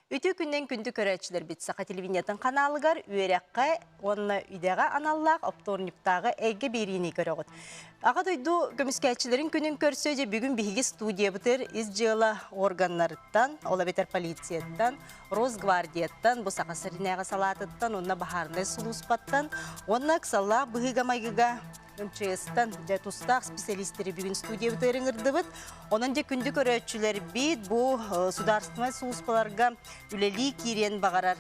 Үтү күннен күндү көрөөччүлэрбит Саха телевидениятын каналыгар үөрәққа онна үйдэҕэ аналлаах обторниктааҕы эйгэ биэриини көрөҕүт. Аға дойду көмүскээччилерин күнүн көрсөде бүгүн биһиги студиябытыр ис дьыала органнарыттан, ола бетер полицияттан, Росгвардияттан, бу Саха сиринээҕи салаатыттан уонна баһаарынай сулууспаттан уонна ыксаллаах быһыыга-майгыга МЧС-тан дьэ тустаах специалистери бүгүн студиябыт ыырыҥырдыбыт. Онон дьэ күндү көрөөччүлэрбит бу судаарыстыбаннай сулууспаларга үлэлии киириэн баҕарар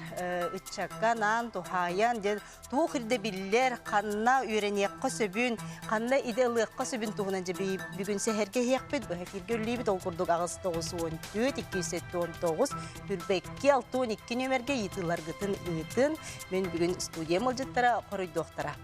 ыччакка анаан туһаайан дьэ туох ирдэ биллэр, ханна үөрэниэххэ сөбүн, ханна иде ылыахха сөбүн туһунан дьэ бүгүн сэһэргэ иһиэхпит, быһа кииргэ үллүүбүт ол курдук аҕыс тоҕус уон түөрт иккис сэттэ он тоҕус түрбэ икки алты он икки нүөмэргэ ыйытыыларгытын ыытын. Мен бүгүн студия мылдьыттара хоруйдуохтара.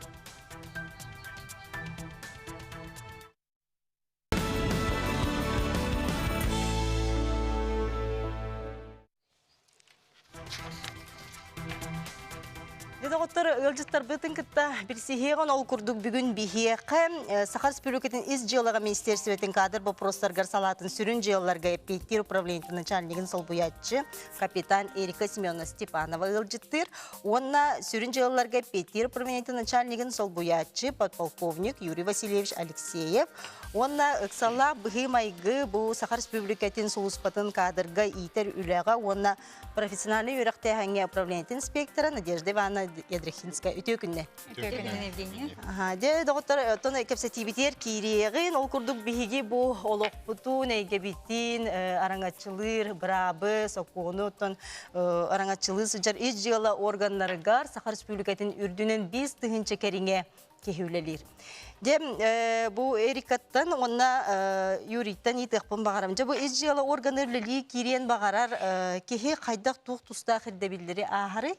Доҕоттор, ыалдьыттарбытын кытта билсиһиэҕин ол курдук бүгүн биһиэхэ э, Саха Республикатын ис дьыалаҕа министерствотын каадыр боппуруостарыгар салаатын сүрүн дьыалаларга эппиэттиир управлениетын начальнигын солбуйааччы капитан Эрика Семеновна Степанова ыалдьыттыыр. Уонна сүрүн дьыалаларга эппиэттиир правительство начальнигын солбуйааччы подполковник Юрий Васильевич Алексеев уонна ыксаллаах быһыы-майгы бу Саха Республикатын сулууспатын каадырга иитэр үлэҕэ уонна профессиональнай үөрэхтээһиҥҥэ управлениетин инспектора Надежда Ивановна Ядрихинская үтүө күннэ. Дьэ, доҕоттор, оттон кэпсэтиибитигэр киириэҕин. Ол курдук биһиги бу олохпутун, эйгэбитин араҥаччылыыр быраабы, сокуону, оттон араҥаччылыы сылдьар ис дьыала органнарыгар Саха Республикатын үрдүнэн биис тыһыынча кэриҥэ киһи үлэлиир. Дьэ, бу Эрикаттан уонна Юрийтан ыйытыахпын баҕарам. Дьэ, бу ис дьыала органы үлэлии киириэн баҕарар киһи хайдах туох тустаах ирдэбиллэри ааһарый?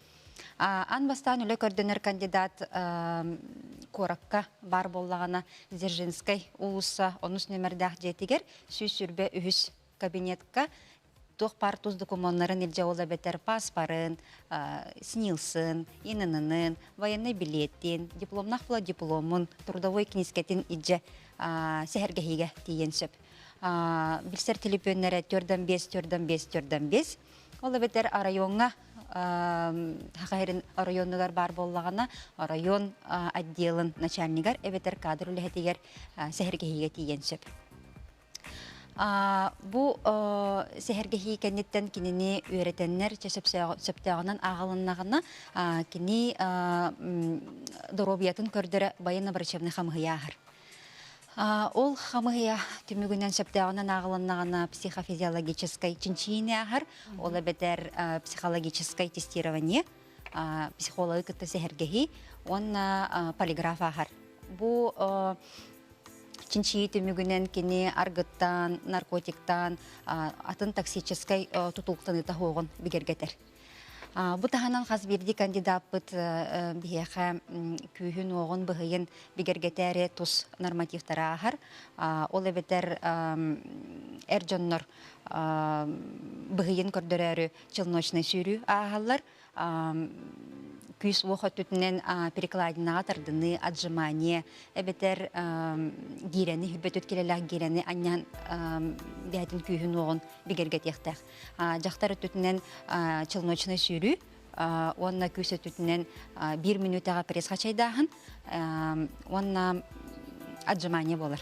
Аан бастаан үлэ көрдөнөр кандидат куоракка баар буоллаҕына Дзержинскай уулусса онус нүөмэрдээх дьиэтигэр сүүс сүрбэ үһүс кабинетка туох баар тус докумуоннарын илдьэ ол эбэтэр пааспарын, СНИЛСын, ИНН-ын, военнай билиэтин, дипломнаах флотдипломун, трудовой кинискэтин илдьэ сэһэргэһиигэ тиийэн сөп. Билсэр телепүөннэрэ 4.5, 4.5, 4.5 Ол эбэтэр оройуоҥҥа Хахайрин оройуонугар баар буоллаҕына, оройуон отделын начальнигар эбэтэр кадр үлэһитигэр сэһэргэһиигэ тиийэн сөп. Бу сэһэргэһии кэнниттэн кинини үөрэтэннэр сөптөөҕүнэн ааҕылыннаҕына, кини доруобуйатын көрдөрө байын врачебный хамыһыйа аһар. Ол хамыһыйа түмүгүнэн сөптөөҕүнэн ааҕылыннаҕына психофизиологическай чинчийини ааһар, ол эбэтэр психологическай тестирование, психологы кытта сэһэргэһии уонна полиграф ааһар. Бу чинчийии түмүгүнэн кини аргыттаан, наркотиктаан атын токсическай тутуулктаныыта оһоҕун бигэргэтэр. Бу таһынан хас биирдии кандидаппыт биһиэхэ күүһүн-уоҕун, быһыйын бигэргэтээри тус нормативтары ааһар. Ол эбэтэр эр дьоннор быһыйын көрдөрөөрү челночнай сүүрүү ааһаллар күүс-уох өттүтүнэн перекладинаҕа тардыныы, отжимание эбэтэр гиирэни, бүппөтүт килэлээх гиирэни анньан бэйэтин күүһүн-уоҕун бигэргэтиэхтээх. дьахтар өттүтүнэн челночнай сүүрүү уонна күүс өттүтүнэн биир мүнүүтэҕэ пресс-хачайдааһын уонна отжимание буолар.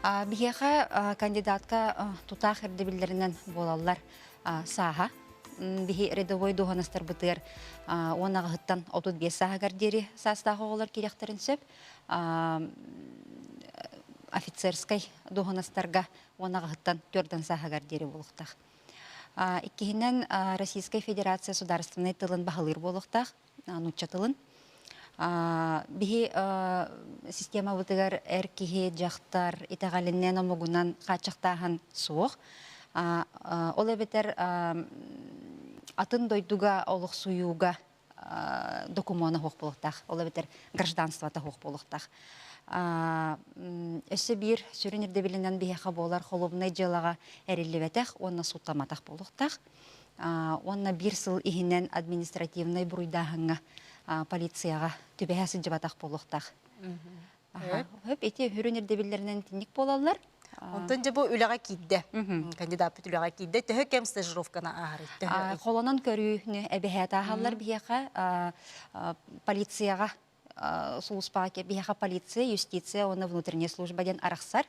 Биһиэхэ кандидатка тутаах ирдэбиллэринэн буолаллар сааһа. Биһи рядовой дуоһунастарбытыгар уон аҕаһыттан 35 сааһыгар диэри саастаах оҕолор киириэхтэрин сөп. Офицерскай дуоһунастарга уон аҕаһыттан түөртэн сааһыгар диэри буолуохтаах. Иккиһинэн, Российскай Федерация судаарыстыбаннай тылын баһылыыр буолуохтаах, нуучча тылын. Биһи системабытыгар эр киһи, дьахтар итэҕэлинэн, омугунан хааччахтааһын суох. Ол эбэтэр атын дойдуга олохсуйууга докумуона суох буолуохтаах, ол эбэтэр гражданствота суох буолуохтаах. Өссө биир сүрүн ирдэбилинэн биһиэхэ буолар холуобунай дьыалаҕа эриллибэтэх уонна сууттаматах буолуохтаах. Уонна биир сыл иһинэн административнай буруйдааһыҥҥа полицияҕа түбэһэ сылдьыбатах буолуохтаах. Өп ити үрүн ирдэбиллэринэн итинник буолаллар. Онтон дьэ бу үлэҕэ киирдэ. Кандидаппыт үлэҕэ киирдэ. Төһө кэм стажировканы ааһарый? Холонон көрүүнү эбэһээт ааһаллар биһиэхэ полицияҕа сулууспаҕа биһиэхэ полиция, юстиция уонна внутренняя служба диэн арахсар.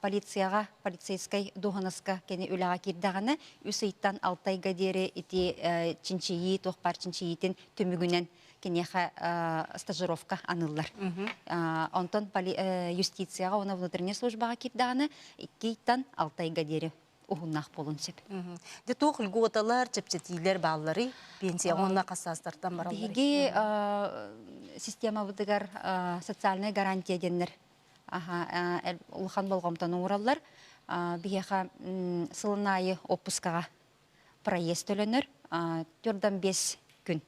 Полицияҕа, полицейскай дуоһунаска кини үлэҕэ киирдэҕинэ үс ыйтан алта ыйга диэри ити чинчийии, туох баар чинчийиитин түмүгүнэн киниэхэ стажировка аныллар. Онтон юстицияҕа уонна внутреннай службаҕа киирдэҕинэ иккийтан алтайга диэри уһуннаах буолун сөп. Дьэ туох льготалар, чэпчэтиилэр баалларый? Пенсияҕа уонна хассаастартан бараллар. Биһиги системабытыгар социальнай гарантия диэннэр улахан болҕомтону уураллар. Биһиэхэ сылын аайы оппускаҕа проезд төлөнөр төрдөн бес күн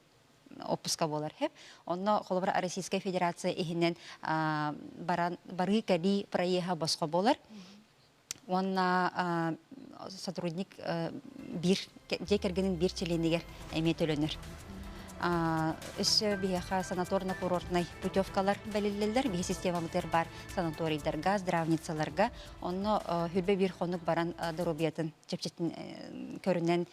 отпуска буолар һэ онно холобура российская федерация иһинэн баран барыы кэлии проеһа босхо буолар уонна сотрудник биир дьиэ кэргэнин биир чилиэнигэр эмиэ төлөнөр өссө биһиэхэ санаторно-курортнай путевкалар бэлиллэллэр биһи системабытыгар баар санаторийдарга здравницаларга онно хүрбэ биир хонук баран доруобуйатын чэпчэтин көрүнэн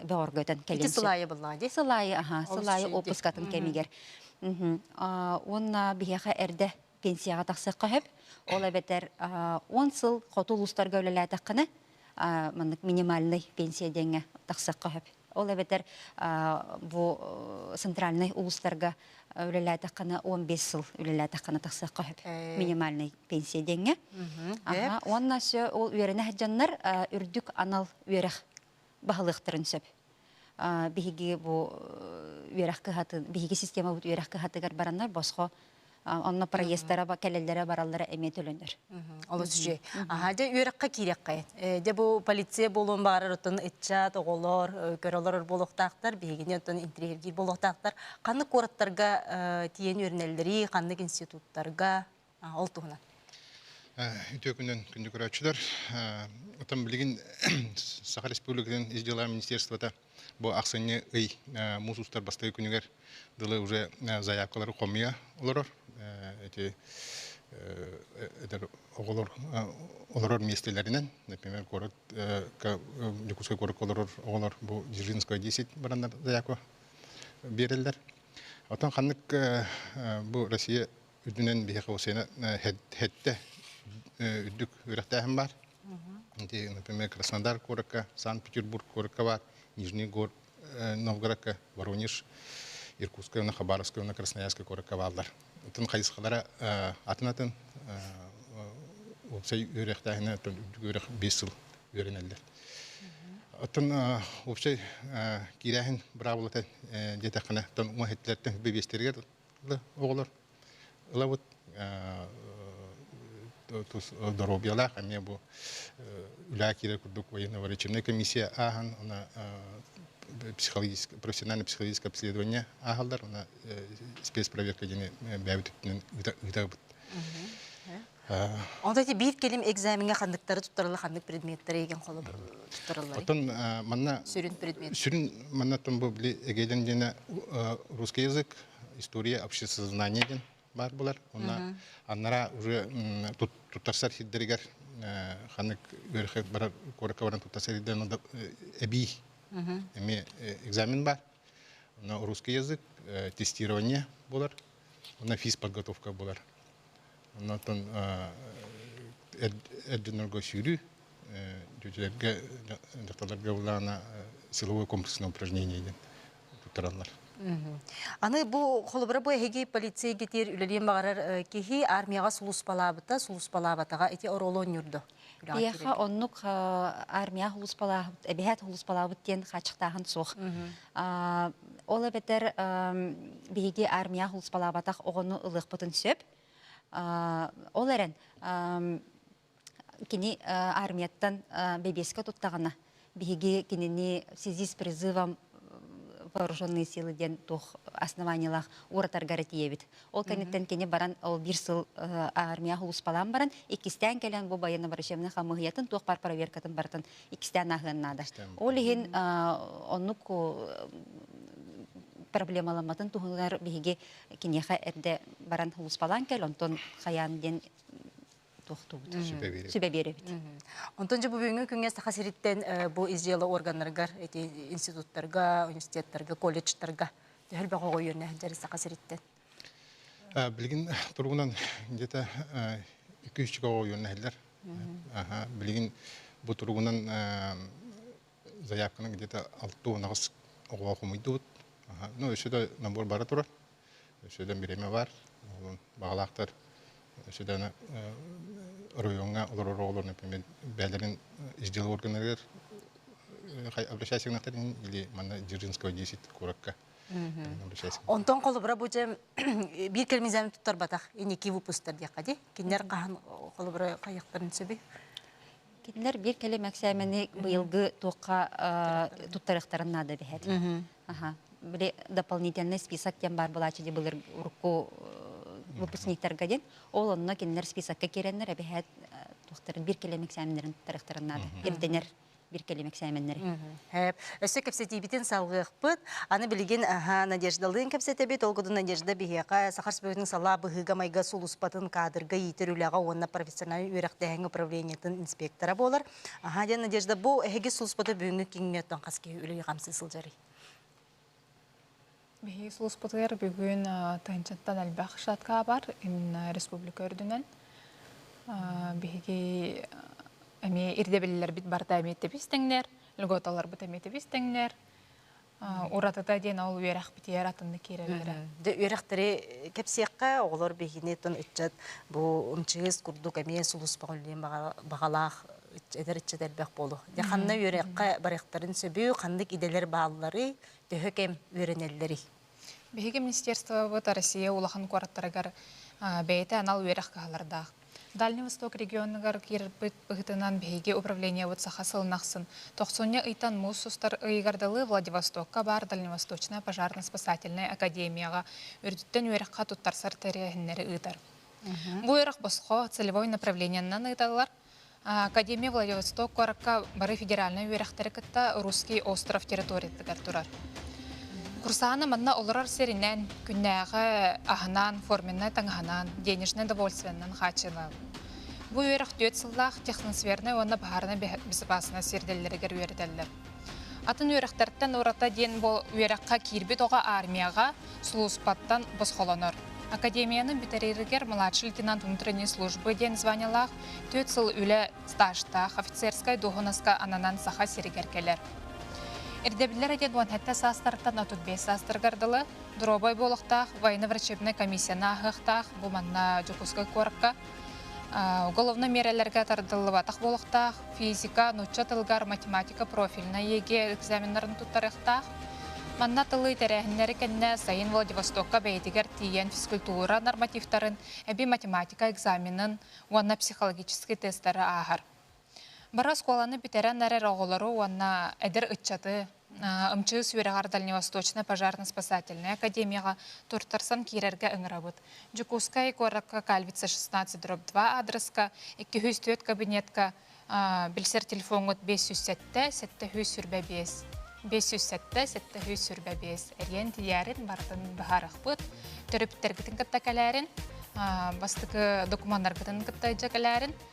бөҕөргөтөн кэлин ити сылайы быллаа дии сылайы аха сылайы опускатын кэмигэр уонна биһиэхэ эрдэ пенсияҕа тахсыахха сөп ол эбэтэр он сыл хоту улуустарга үлэлээтэххинэ маннык минимальный пенсия диэҥҥэ тахсыахха сөп Ол эбэтэр бу центральнай улуустарга үлэлээтэххына 15 сыл үлэлээтэххына тахсыахха сөп минимальный пенсия диэҥҥэ. Уонна ол үөрэнэ сылдьаннар үрдүк анал үөрэх баһылыахтарын сөп. Биһиги бу үөрэх кыһатын биһиги системабыт үөрэх кыһатыгар бараннар босхо онно проездара кэлэллэрэ бараллара эмиэ төлөнөр олус үчүгэй аха дьэ үөрэххэ киириэххэ дьэ бу полиция буолуон баҕарар оттон ыччат оҕолор көрө олорор буолуохтаахтар биһигини оттон интириэһиргиир буолуохтаахтар ханнык куораттарга тиийэн үөрэнэллэрий ханнык институттарга ол туһунан үтүөкүнэн күндү көрөөччүлэр отон билигин саха республикатын ис дела министерствота Бу ахсынньы ый муус устар бастакы күнүгэр дылы уже заявкалары хомуйа олорор. Эти эдэр оҕолор олорор миэстэлэринэн, например, куорат Дьокуускай куоракка олорор оҕолор бу Дзержинская 10 бараннар заявка биэрэллэр. Оттон ханнык бу Россия үрдүнэн биһиэхэ Украина хэттэ үрдүк үөрэхтээһин баар. например, Краснодар куоракка, Санкт-Петербург куоракка бар, Нижний город Новгородка, Воронеж, Иркутская уонна Хабаровская уонна Красноярская куоракка бааллар. Атын хайысхалара атын-атын уопсай үөрэхтээһинэ үрэх бес сыл үөрэнэллэр. Оттон уопсай киирээһин быраабылата диэтэххинэ, оттон уҥа хеттилэртэн бэбиэстэригэр оҕолор ылабыт тус доруобуйалаах эмиэ бу үлэ киирэр курдук военно-выручебная комиссия ааһан она психологическое профессиональное психологическое обследование ааһаллар она спецпроверка диэни бэйэбит өттүнэн ыытабыт Онто ити биир кэлим экзамеҥҥа ханныктары туттарылла, ханнык предметтары эгин холобур туттарыллар? Отун манна сүрүн предмет. Сүрүн маннаттан бу били эгелин диэнэ русский язык, история, обществознание диэн баар булар. Онна аннара уже туттарсар сирдэригэр ханнык үөрхет барар куоракка баран туттарсар сирдэрин эбии эмиэ экзамен бар. Онно русский язык, тестирование булар. Онна физподготовка булар. Оннотон эрдинорго сүүрүү дьүдьүлэргэ дьахталларга былаана силовой комплекснай упражнение диэн туттараллар. Аны бу холобура бу эһиги полицейгитир үлэлиэн баҕарар киһи армияҕа сулууспалаабыта, сулууспалаабатаҕа ити оролон ньурду. Эйиэхэ оннук армия улууспалаабыт, эбэһээт улууспалаабыт диэн хааччыктааһын суох. Ол эбэтэр биһиги армия улууспалаабатах оҕону ылыахпытын сөп. Ол эрэн кини армияттан бэбиэскэ туттаҕына Биһиги кинини связи с призывом вооруженные силы диэн туох основаниелаах уратаргар этийэбит. Ол кэнниттэн кини баран ол биир сыл армия улууспалаан баран иккистээн кэлэн бу байыанна барышебный хамыһыйатын туох бар проверкатын барытын иккистээн ааһыан наада. Ол иһин оннук проблемаламматын туһугар биһиги киниэхэ эрдэ баран улууспалаан кэл онтон хайаан диэн тохтубут сүбэ биэрэбит онтон же бу бүгүҥҥү күҥҥэ саха сириттэн бу ис дьыала органнарыгар эти институттарга университеттарга колледжтарга төһөр бөҕө оҕойуонна сылдьар саха сириттэн билигин туругунан дьэте үкүүсчүк оҕойуон нэһиллэр билигин бу туругунан заявканы где-то алты уонаҕас оҕоҕо хомуйдубут ну өссө да набор бара турар өссө да бириэмэ баар баҕалаахтар өссө да оройуоҥҥа олорор оҕолорун например бэйэлэрин ис дьыала органарыгар обращайся к нахтарин или манна Дзержинского 10 куоракка Онтон холобура бу дьэ биир кэлмизен туттарбатах инники выпустар диэххэ ди кинилэр хаһан холобура хайыктарын сөбүй Кинилэр биир кэлим эксээмэни быйылгы туохха туттарыахтарын наада дэһэр. Били дополнительный список диэн баар былаачыдьы былыр урукку выпускниктарга диэн ол онно кинилэр списокка киирэннэр эбэһээт туохтарын биир кэлим эксээмнэрин туттарыахтарын наада ирдэнэр биир кэлим эксээмэннэри Өссө кэпсэтиибитин салҕыахпыт. Аны билигин Надеждалыын кэпсэтэбит. Ол курдук Надежда биһиэхэ саха спортын салаа быһыыга-майга сулууспатын каадырга иитэр үлэҕэ уонна профессиональнай үөрэхтээһин управлениетын инспектора буолар. Диэн Надежда, бу эһиги сулууспата бүгүҥҥү күҥҥэ оттон хас киһи үлэ-хамсыы сылдьарый? Биһиги сулууспутугар бүгүн тыһыынчаттан элбэх шаткаабар республика үрдүнэн биһиги эмиэ ирдэбиллэрбит барыта эмиэ тэбис тэҥнэр льготаларбыт эмиэ тэбис тэҥнэр уратыта диэн ол үөрэхпитигэр атыннык киирэллэрэ дэ үөрэхтэри кэпсиэххэ оҕолор биһигини тон ыччат бу ымчыыс курдук эмиэ сулууспаҕа үллээн баҕалаах эдэр ыччат элбэх буолу. Дьэ ханна үөрэххэ барыахтарын сөбү, ханнык идэлэр бааллары, төһө кэм үөрэнэллэрий? Биһиги министерствобыт Россия улахан куораттарыгар бэйэтэ анал үөрэх кыһалардаах. Дальний Восток регионугар киирбит быһыытынан биһиги управлениебыт саха сылын ахсын тохсунньу ыйтан муус устар ыйыгар дылы Владивостокка баар Дальневосточная пожарно-спасательная академияҕа үрдүттэн үөрэххэ туттарсар тэрээһиннэри ыытар. Бу үөрэх босхо целевой направлениенан ыыталлар. Академия Владивосток куоракка бары федеральнай үөрэхтэри кытта Русский остров территориятыгар турар. Курсааны манна олорор сиринэн, күннээҕи аһынан, форменнай таҥаһынан, денежнай довольственынан хааччылаабыт. Бу үөрэх түөрт сыллаах техносфернай уонна баһаарынай безопаснай сирдэллэригэр үөрэтэллэр. Атын үөрэхтэртэн урата диэн бу үөрэххэ киирбит оҕо армияҕа сулууспаттан босхолонор. Академияны бүтэрэригэр младший лейтенант внутренней службы диэн званиелаах түөрт сыл үлэ стажтаах офицерскай дуоһунаска ананан Саха сиригэр кэлэр. Ирдэбиллэр диэн уон сэттэ саастарыттан отут биэс саастарыгар дылы доруобай буолуохтаах военно-врачебнай комиссияны ааһыахтаах бу манна Дьокуускай куоракка Уголовнай миэрэлэргэ тардыллыбатах буолуохтаах, физика, нуучча тылыгар, математика профильнай ЕГЭ экзаменнарын туттарыахтаах. Манна тылы тэрээһиннэри кэннэ сайын Владивостокка бэйэтигэр тиийэн физкультура нормативтарын, эбии математика экзаменын уонна психологический тестары ааһар. Бары оскуоланы бүтэрэн эрэр оҕолору уонна эдэр ыччаты МЧС үөрэҕэр Дальневосточнай пожарно-спасательнай академияҕа туртарсан киирэргэ ыҥырабыт. Дьокуускай куоракка Кальвица 16 дробь 2 аадырыска икки сүүс түөрт кабинетка билсэр телефоҥҥут биэс сүүс сэттэ, сэттэ сүүс сүрбэ биэс, биэс сүүс сэттэ, сэттэ сүүс сүрбэ биэс эриэн тиийээрин барытын быһаарыахпыт. Төрүптэриитин кытта кэлээрин, бастакы докумуоннаргытын кытта дьэ кэлээрин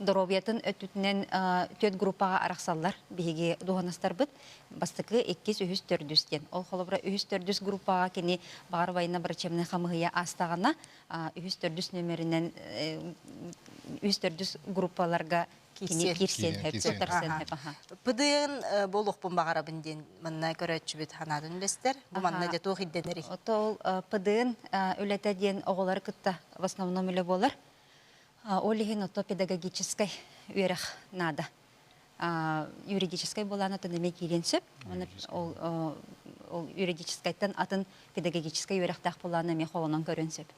доруобуйатын өттүтүнэн түөрт группаҕа арахсаллар биһиги дуоһунастарбыт бастакы иккис үһүс төрдүс диэн ол холобура үһүс төрдүс группаҕа кини баҕар убайына врачебнай хамыыһыйа аастаҕына үһүс төрдүс нөмөрүнэн үһүс төрдүс группаларга кини киирсиэн ПДН буолуохпун баҕарабын диэн манна көрөөччүбүт санаатын үлэстэр бу манна дьэ туох ирдэнэрий? Ото ол ПДН үлэтэ диэн оҕолары кытта в основном үлэ буолар Ол иһин оттон педагогическай үөрэх наада. Юридическай буолаан атын эмиэ киириэн сөп. Ол юридическайтан атын педагогическай үөрэхтээх буолаан эмиэ холонон көрүөн сөп.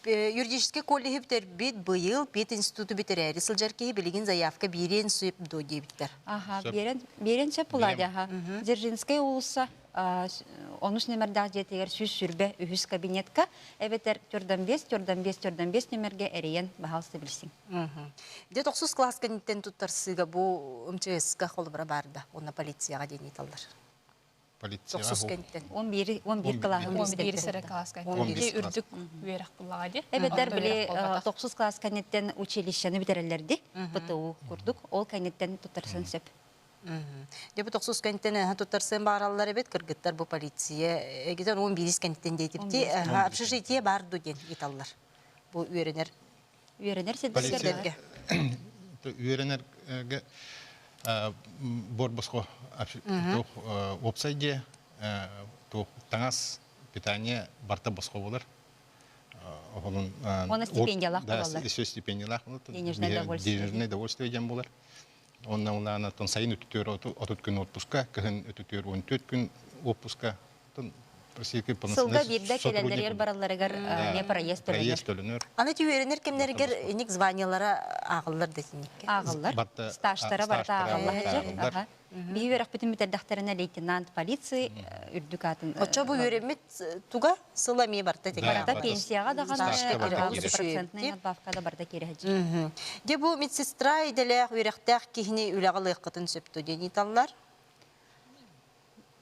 Юридическай колледжы бүтэрбит быйыл пединституту бүтэрээри сылдьар киһи билигин заявка биэриэн сөп дуо диэбиттэр. Аха, биэрэн сөп булаадэ. Дзержинскай уулусса онус нөмэрдээх дьиэтигэр сүүс сүрбэ үһүс кабинетка эбэтэр төрдөн биэс төрдөн биэс төрдөн биэс нөмэргэ эрийэн баһаалыста билсиҥ дьэ тохсус класс кэнниттэн туттарсыыга бу мчска холобура барда уонна полицияга диэн ыыталлар тохсус кэнниттэн он биир он биир кылааһын он биир сэрэ класс кэнниттэн үрдүк үөрэх кыллаҕа ди эбэтэр били тохсус класс кэнниттэн училищены бүтэрэллэр ди ПТУ курдук ол кэнниттэн туттарсан сөп Дьэ бу тохсус кэнниттэн ыһан туттарсыан баараллар эбит. Кыргыттар бу полиция эгитэн он биирис кэнниттэн дейтипти общежитие бар ду диэн италлар. Бу үөрэнэр Үөрэнэр сирдэргэ. Үөрэнэргэ буор босхо опсай дьиэ туох таҥас питание барта босхо болар. Оһолун Она стипендиялаах болалар. Еще стипендиялаах болар. Денежное удовольствие. Денежное удовольствие дем болар. Уонна улаанаттан сайын үтүтүөр отут күн отпуска, кыһын үтүтүөр он төрт күн отпуска Сылга биирдэ кэлендэригэр баралларыгар эмиэ проезд төлөнөр. Аны түһүөрүнэр кэмнэригэр ник званиелара ааҕыллар да синникке. Ааҕыллар. Стажтара барыта ааҕыллар. Биһи үөрэхпитин бүтэрдэхтэринэ лейтенант полиции үрдүк аатын. Оччо бу үөрэммит туга сыл эмиэ барта тиҥэ. Барата пенсияҕа даҕаны надбавка да барда киирэһэ. Дьэ бу медсестра идэлээх үөрэхтээх киһини үлэҕэ ылыаххытын сөп дуо диэн ыйыталлар.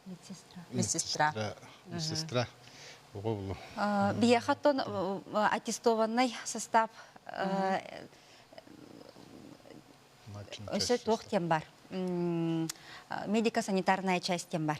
Медсестра. Медсестра. Медсестра. Биехаттон аттестованный состав өсө туох тем бар медико-санитарная часть тем бар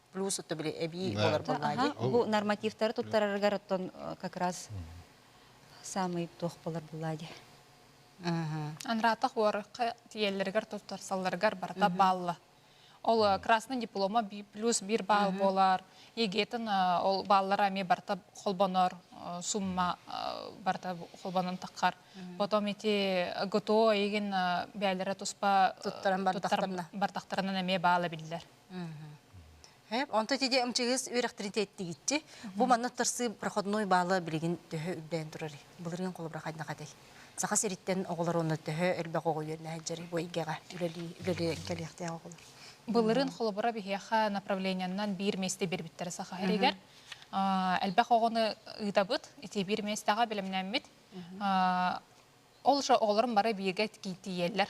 плюс это были эбии болар боллади. Бу нормативтары туттарарыгар оттон как раз самый туох болар боллади. Анратах уарыка тиеллэригэр туттарсалларыгар барата балла. Ол красный диплома плюс бір балл болар. Егетин ол баллара ме барта холбонор сумма барта холбонон таккар. Потом эти ГТО егин бәлері туспа бартақтарынан эме балла биллер. Онто тиде ымчыгыс үөрэхтиритеттигитчи бу манна тырсы проходной баала билигин төһө үрдээн турар былыргын холобура хайдна хатай саха сириттен оголор онно төһө элбэх оҕо үөрнэһэджери бу ийгэҕэ үлэлии кэлиэхтээх оголор былырын холобура биһиэхэ направлениянан биир миэсте бербиттэрэ саха эригэр элбэх оҕону ыытабыт ити биир миэстэҕэ бэлэмнэммит ол же оҕолорум бары бииргэ тиийэллэр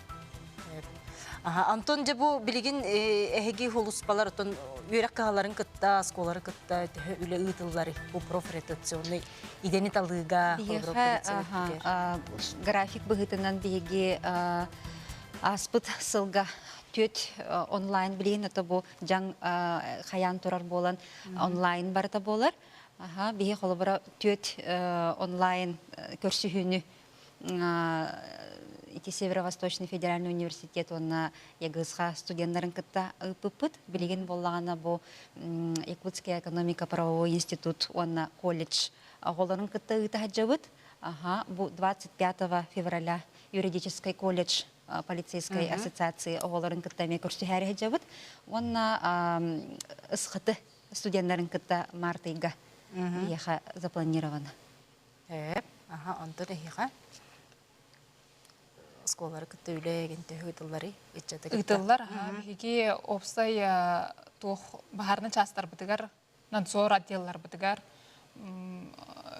Антон дьэ бу билигин эһиги холуспалар отон үөрэх кыһаларын кытта оскуолары кытта төһө үлэ ыытыллар бу профротационный идени талыыга график быһыытынан биһиги ааспыт сылга түөт онлайн билигин это бу жаң хаян турар буолан онлайн барыта буолар биһи холобура түөт онлайн көрсүһүүнү ити Северо-Восточный федеральный университет уонна ЕГСХ студеннарын кытта ыыппыппыт. Билигин буоллаҕына бу Якутская экономико-правовой институт уонна колледж оҕолорун кытта ыыта сылдьабыт. Аха, бу 25 февраля юридический колледж полицейскай uh-huh. ассоциации оҕолорун кытта эмиэ көрсүһээри сылдьабыт уонна ысхыты студеннарын кытта март ыйга uh-huh. запланировано. Эп, аха, онтон эһиэхэ оскуолалары кытта үлэ ээгин төһө ыытылларый ыччаты кытта? Ыытыллар аха биһиги уопсай туох баһаарынай чаастарбытыгар, надзор отделларбытыгар,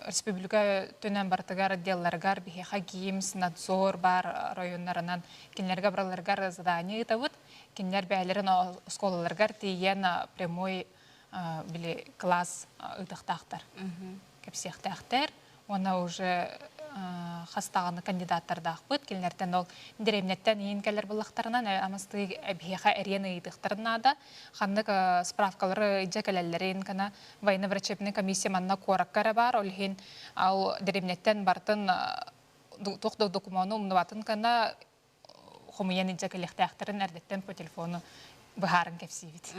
республика төнөн барытыгар отделларыгар биһиэхэ ГИМС, надзор баар оройуоннарынан кинилэргэ барыларыгар задание ыытабыт. Кинилэр бэйэлэрин оскуолаларыгар тиийэн прямой били класс ыытахтаахтар кэпсиэхтээхтэр уонна уже хастаҕаны кандидаттардаахпыт кинилэртэн ол дэриэбинэттэн иин кэлэр буллахтарынан амастыы эбиэхэ эриэн ыйытыктарын наада ханнык справкалары ыйдьа кэлэллэрин кана военно-врачебная комиссия манна куоракка эрэ баар ол иһин ал дэриэбинэттэн бартын туох да докумуону умнубатын кана хомуйан илдьэ кэлиэхтээхтэрин эрдэттэн по телефону быһааран кэпсиибит.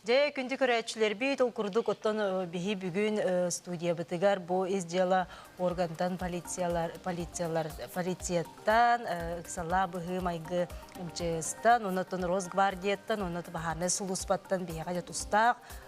Дьэ, күндү көрөөччүлэрбит, ол курдук оттон биһи бүгүн студиябытыгар бу ис дьыала органтан полициялар полициялар полицияттан ыксала быһыы майгы МЧС-тан, оннуттан Росгвардияттан, оннуттан баһаамай сулууспаттан биһиэхэ тустаах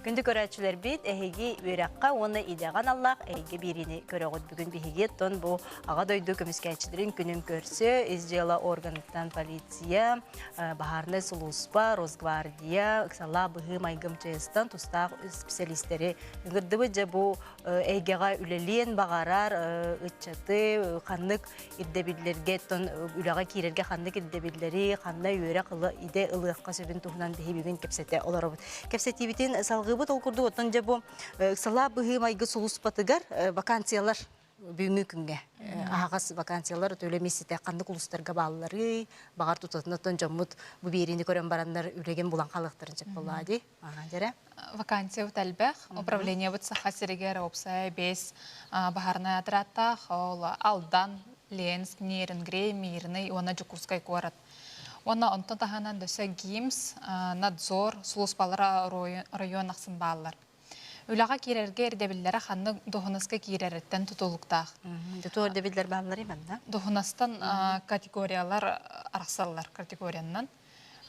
Күндү көрөөччүлэрбит, эһиги үөрэххэ уонна идэҕэ аналлаах эйгэ биэриини көрөҕүт. Бүгүн биһиги тон бу Аҕа дойду көмүскээччилэрин күнүн көрсө ис дьыала органыттан полиция, баһаарынай сулууспа, Росгвардия, ыксаллаах быһыы майгым ЧС-тан тустаах исписэлиистэри ыҥырдыбыт дьэ бу эйгэҕэ үлэлиэн баҕарар ыччаты ханнык ирдэбиллэргэ үлэҕэ киирэргэ ханнык ирдэбиллэри, ханна үөрэх ыла, идэ ылыахха сөбүн туһунан биһи бүгүн кэпсэтэ олоробут. Кэпсэтиибитин салҕыыбыт ол курдук оттон дьэ бу ыксалаа быһыы майгы сулуспатыгар вакансиялар бүгүҥҥү күҥҥэ аһаҕас вакансиялар төөлө мисситэ ханнык улуустарга баалларый баҕар тутатынаттан дьоммут бу биэриини көрөн бараннар үлэгин булан хаалыахтарын сөп буоллаа дии Дэрэ вакансиябыт элбэх. Управлениебыт Саха сиригэр уопсай бэс баһарынай отрядтаах, ол Алдан, Ленск, Нерюнгри, Мирный уонна Дьокуускай куорат. Уонна онтон таһынан дөссө ГИМС, надзор сулууспалара оройуон ахсын бааллар. Үлэҕэ киирэргэ ирдэбиллэрэ ханнык дуоһунаска киирэриттэн тутулуктаах. Тутуу ирдэбиллэр бааллар да? Дуоһунастан категориялар арахсаллар категорияннан.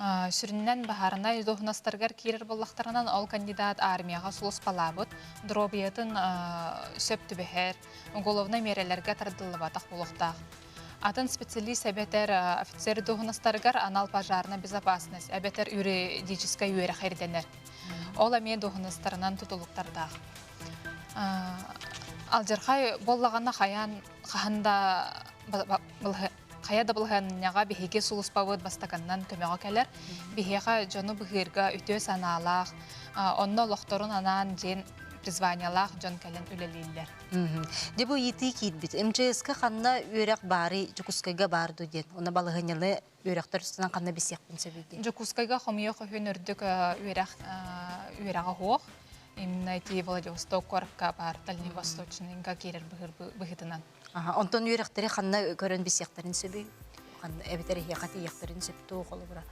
Сүрүннэн баһаарынай дуоһунастарыгар киирэр буоллахтарынан, ол кандидат армияҕа суоспалаабыт, доруобуйатын сөп түбэһэр, уголовнай миэрэлэргэ тардыллыбатах буолуохтаах. Атын специалист эбэтэр офицер дуоһунастарыгар анал пожарная безопасность эбэтэр юридическай үөрэх ирдэнэр. Ол эмиэ дуоһунастарынан тутулуктардаах. Алдьархай буоллаҕына хайаан хаһан да Хайа да былаһыанньаҕа биһиги сулуспабыт бастакыннан көмөҕө кэлэр. Биһиэхэ дьону быһыырга үтүө санаалаах, онно олохторун анаан диэн призваниелаах дьон кэлэн үлэлииллэр. Дьэ бу ыйытыы киирбит. МЧС-ка ханна үөрэх баарый, Дьокуускайга баар дуу диэн. Уна балаһыанньаны үөрэхтэр үстүнэн ханна билсиэхпин сөбүй диэн. Дьокуускайга хомуйа хөһүн үрдүк үөрэх үөрэҕэ һуох. Именно эти Владивосток куоракка баар Дальний Восточныйга киирэр быһыытынан. Онтон үөрэхтэри ханна көрөн билсиэхтэрин сөбүй? Эбэтэр эһиэхэ тиийиэхтэрин сөп туох холобура?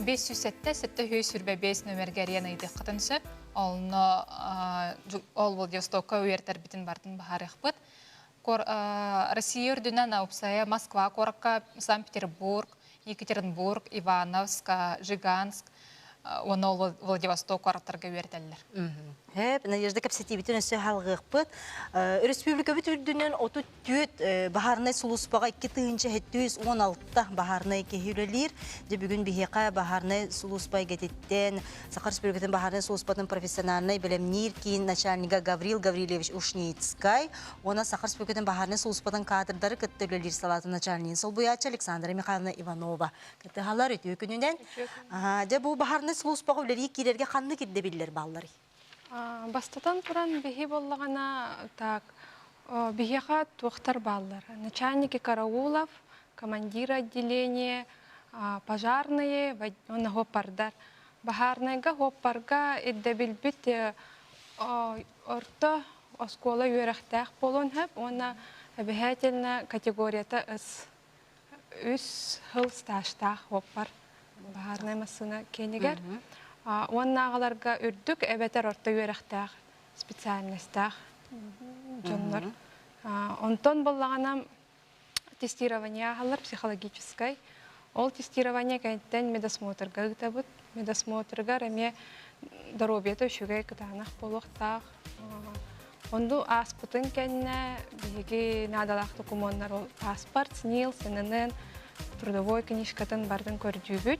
Бес сүүс сэттэ, сэттэ үһүс сүрбэ бес нөмерге ариан ыйдыаххытын сөп. Онно ол Владивостокка үөртэрбитин бартын баһарыахпыт. Россия үрдүнэн Аупсая Москва куоракка Санкт-Петербург, Екатеринбург, Ивановск, Жиганск уонна Владивосток куораттарга үөрэтэллэр. Надежда кэпсэтиибитин өссө халҕыахпыт. Республикабыт үрдүнэн 34 баһаарынай сулууспаҕа 2 тыһыынча 716 баһаарынай киһи үлэлиир. Дьэ бүгүн биһиэхэ баһаарынай сулууспа эйгэтиттэн Саха Республикатын баһаарынай сулууспатын профессиональнай бэлэмниир киин начальнига Гаврил Гаврильевич Ушницкай, уонна Саха Республикатын баһаарынай сулууспатын каадырдары кытта үлэлиир салаатын начальнигын солбуйааччы Александра Михайловна Иванова. Кытыһалар үтүө күнүнэн. Дьэ бу баһаарынай сулууспаҕа үлэлии киирэргэ ханнык ирдэбиллэр баалларый? Бастатан туран, биһи буоллаҕына так, биһиэхэ туохтар бааллар? Начальники караулов, командиры отделения, пожарные, но гопардар. Баһаарынайга, уоппарга ирдэбилбит орто оскуола үөрэхтээх буолуон сөп уонна эбэһээтэлинэ категорията ыс. Үс сыл стажтаах уоппар баһаарынай массыына киинигэр уонна аҕаларга үрдүк эбэтэр орто үөрэхтээх специальностаах дьоннор. Онтон буллаҕына тестирование аһаллар психологическай. Ол тестирование кэнниттэн медосмотрга ыытабыт. Медосмотрыгар эмиэ доруобуйата үчүгэй кытаанах буолуохтаах. Онду ааспытын кэннэ биһиги наадалаах докумуоннар ол паспорт, СНИЛ, СНН, трудовой книжкатын барын көрдүүбүт.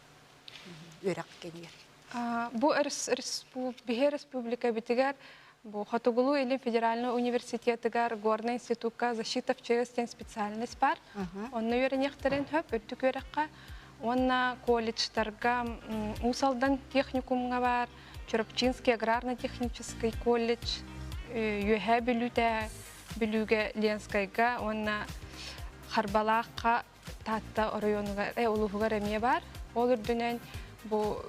үөрэх кэнигэр бу биһи республикабытыгар бу хотугулуу или федеральный университетыгар горный институкка защита в чевесте специальность бар онно үөрэниэхтэрин хөп үрдүк үөрэххэ уонна колледжтарга уусалдан техникумга бар чурапчинский аграрно технический колледж үөһэ бүлүүтэ бүлүүгэ ленскайга уонна харбалаахха Таатта оройуонугар, э, улууһугар эмиэ баар. Ол үрдүнэн бу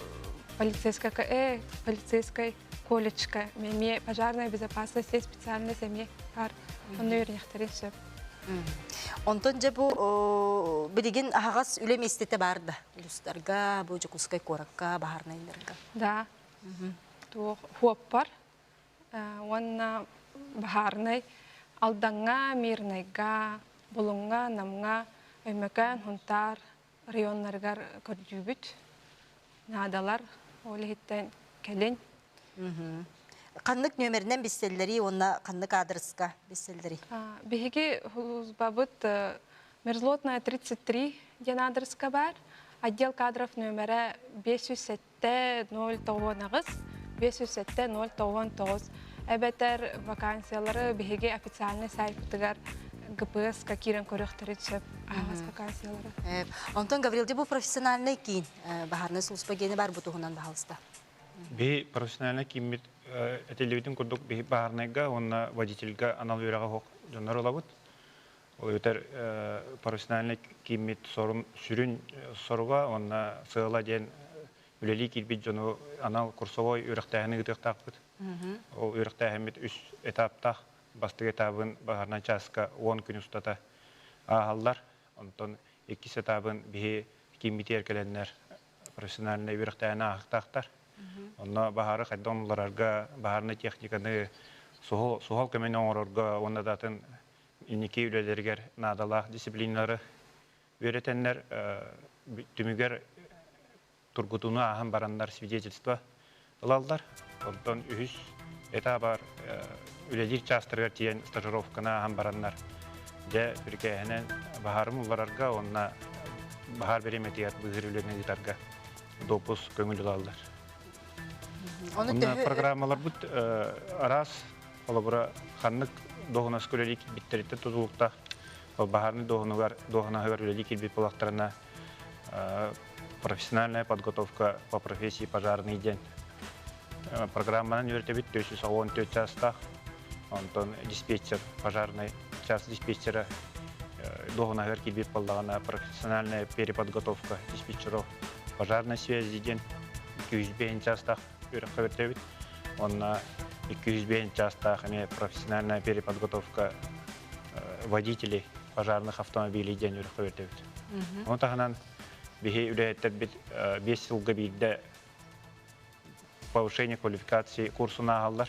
полицейская, э, полицейскай колледжка эмиэ пожарная безопасность есть специальность эмиэ баар. Онно үөрэнэхтэрин сөп. Онтон дьэ бу билигин аһаҕас үлэ миэстэтэ баар да улуустарга, бу Дьокуускай куоракка, баһаарнайдарга. Да. Туох хуоппар уонна баһаарынай Алдаҥҥа, Мирнайга, Булуҥҥа, Намҥа, Өймөкөөн, Хунтаар районнарыгар көрдүүбүт. Наадалар ол иһиттэн кэлин Ханнык нөмеринэн билсэллэрий уонна ханнык аадырыска билсэллэрий? Биһиги службабыт Мерзлотная 33 диэн аадырыска баар. Отдел кадров нөмерэ 508 Т-0 тоҕуонаҕыс, биэс үсэтэ ноль тоҕуон тоҕус эбэтэр вакансиялары биһиги официальнай сайтыгар ГПС-ка киирэн көрүөхтэрин сөп аһаҕас вакансиялары. Онтон Гаврилди бу профессиональнай киин баһаарынай сулууспа гиэнэ баар бу туһунан баһалыста. Биһи профессиональнай кииммит этиллибитин курдук биһи баһаарынайга уонна водительга анал үөрэҕи оһох дьоннор ылабыт. Өтөр профессиональнай кииммит сорум сүрүн соруга уонна сыала диэн үлэлии киирбит дьону анал курсовой үөрэхтээһини ыытыахтаахпыт. Ол үөрэхтээһиммит үс этаптаах бастык этабын баһарынан чааска уон күн устата ааһаллар. Онтон иккис этабын биһи кииммитигэр кэлэннэр профессиональнай үөрэхтээһини аахтаахтар. Онно баһары хайдах уларарга, баһарынай техниканы, суһал көмөнү оҥорорго уонна даатын инники үлэлэригэр наадалаах дисциплиналары үөрэтэннэр түмүгэр тургутууну ааһан бараннар свидетельство ылаллар. Онтон үһүс этабар үлэлиир чаастарыгар тиийэн стажировканы ааһан бараннар дьэ бүркээһинэн баһаарым улларарга уонна баһаар бириэмэтигэр быыһыр үлэни ыытарга допус көҥүл ылаллар. Онно программаларбыт араас Холобура, ханнык дуоһунаска үлэлии киирбиттэриттэн тутулуктаах баһаарынай дуоһунаһыгар дуоһунаһыгар үлэлии киирбит буоллахтарына профессиональная подготовка по профессии пожарный диэн программанан үөрэтэбит 414 чаастаах онтон диспетчер пожарный чаас диспетчера дуоһунаһыгар киирбит боллаҕына профессиональная переподготовка диспетчеров пожарной связи диэн 205 чаастаах үөрэххэ бүттэбит. Онно 205 чаастаах эмиэ профессиональная переподготовка водителей пожарных автомобилей диэн үөрэххэ бүттэбит. Оны таһынан биһи үлэһиттэрбит биэс сылга биирдэ повышение квалификации курсун ааһаллар.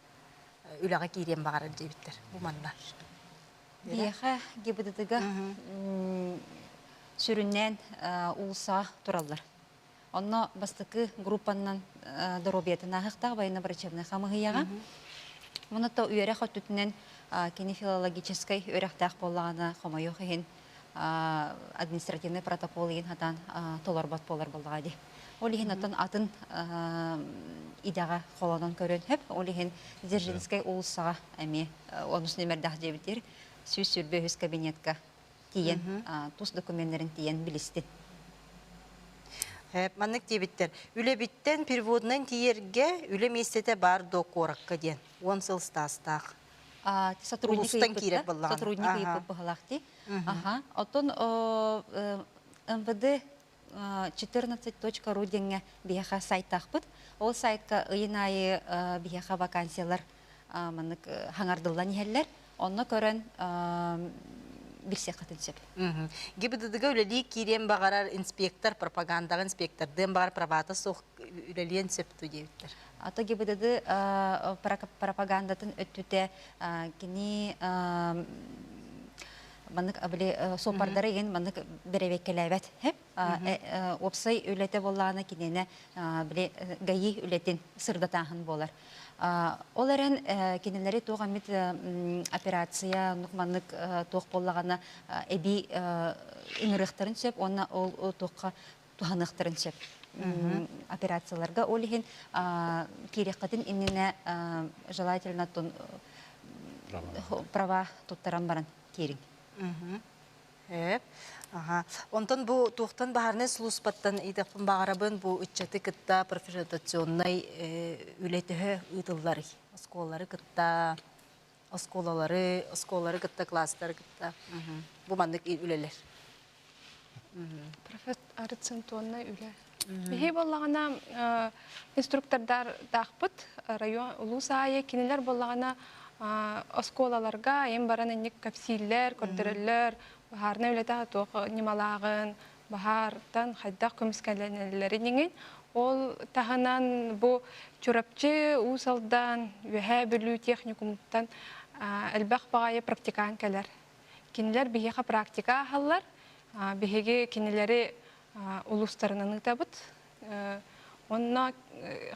үлэҕэ киириэн баҕарар диэбиттэр бу манна. Биэхэ ГИБДД-га сүрүннээн уулусса тураллар. Онно бастакы группаннан доруобуйатын аахыктаах военно-врачебнай хамыһыйаҕа. Муну то үөрэх өттүтүнэн кинефилологическай үөрэхтээх буоллаҕына хомойуох иһин административнай протокол иһин хатан толорбот буолар буоллаҕа дии. Ол иһин оттон атын идэҕэ холонон көрөн сөп. Ол иһин Дзержинскэй уулуссаҕа эмиэ онус нөмердээх диэбитир сүүс сүрбэ үһүс кабинетка тиийэн тус документтерин тиийэн билистин. Маннык диэбиттэр, үлэбиттэн переводунан тиийэргэ үлэ миэстэтэ баар дуо куоракка диэн, уон сыл стаастаах. сотрудник киирэр буоллаҕа сотрудник ыйыппыт быһалаах дии аха оттон мвд 14.ру диэҥҥэ биһиэхэ сайтаахпыт ол сайтка ыйын аайы биһиэхэ вакансиялар маннык хаҥардыллан иһэллэр онно көрөн билсиэххитин сөп. ГИБДДга үлэлии киириэн баҕарар инспектор, пропагандаҕа инспектордыан баҕар правата суох үлэлиэн сөп дуу диэбиттэр. Ата ГИБДД пропагандатын өттүтэ кини маннык били суоппардары иһин маннык бэрэбиэккэлээбэт уопсай үлэтэ буоллаана киниэнэ били гаи үлэтин сырдатааһын буолар ол эрэн кинилэри туох эмит операция нук маннык туох буоллаҕына эбии ыҥырыахтарын сөп уонна ол туохха туһаныахтарын сөп операцияларга ол иһин киириэххитин иннинэ желательно тун права туттаран баран киириҥ Эп. Аха. Онтон бу туохтан баһарнай сулууспаттан идэппин баҕарабын бу ыччаты кытта профилятационнай үлэтөһө ыытыллар оскуолалары кытта оскуолалары, оскуолалары кытта класстары кытта бу маннык үлэлэр. Профессор центонной үлэ. Михей боллагана инструктордар таахпыт район улуус аайы кинилер боллагана оскуолаларга айын баран инник кэпсииллэр, көрдөрөллөр, баһаарна үлэтэ туох ньымалааҕын, баһаартан хайдах көмүскэлэнэллэрин иҥин. Ол таһынан бу Чурапчы, Уус Алдаан, Үөһээ Бүлүү техникумуттан элбэх баҕайы практикаан кэлэр. Кинилэр биһиэхэ практика аһаллар. Биһиги кинилэри улуустарынан ыытабыт. Онно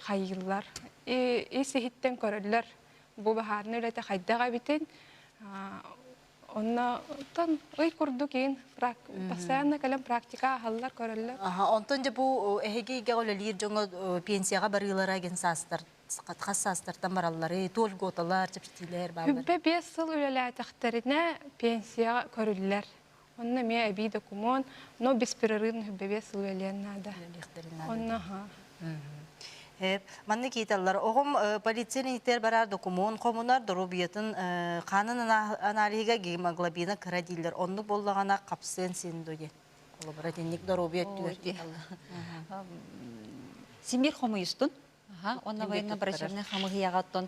хайыыллар. Ис иһиттэн көрөллөр бу баһаарынай үлэтэ хайдах эбитин, Онно оттон ый курдук иһин прак постоянно кэлэн практика аһаллар, көрөллөр. Аха, онтон дьэ бу эһиги ийэҕэ үлэлиир дьоҥҥо пенсияҕа барыылара деген саастар хас саастартан бараллары, то льготалар, чэпчэтиилэр бааллар. Күббэ биэс сыл үлэлээтэхтэринэ пенсияҕа көрүллэр. Онно эмиэ эбии докумуон, но беспрерывно күббэ биэс сыл үлэлиэн наада. Үлэлиэхтэрин наада. Онно аха. Манны кииталлар. Оҕом полиция ниитэр барар докумуон хомунар доруобуйатын хаанын аналиһига гемоглобина кыра дииллэр. Оннук боллаҕана хапсыан син дуйен. Олобура итинник доруобуйа өттүгэр Симир хомуйустун. Онна военная оперативная хамыһыйаҕаттан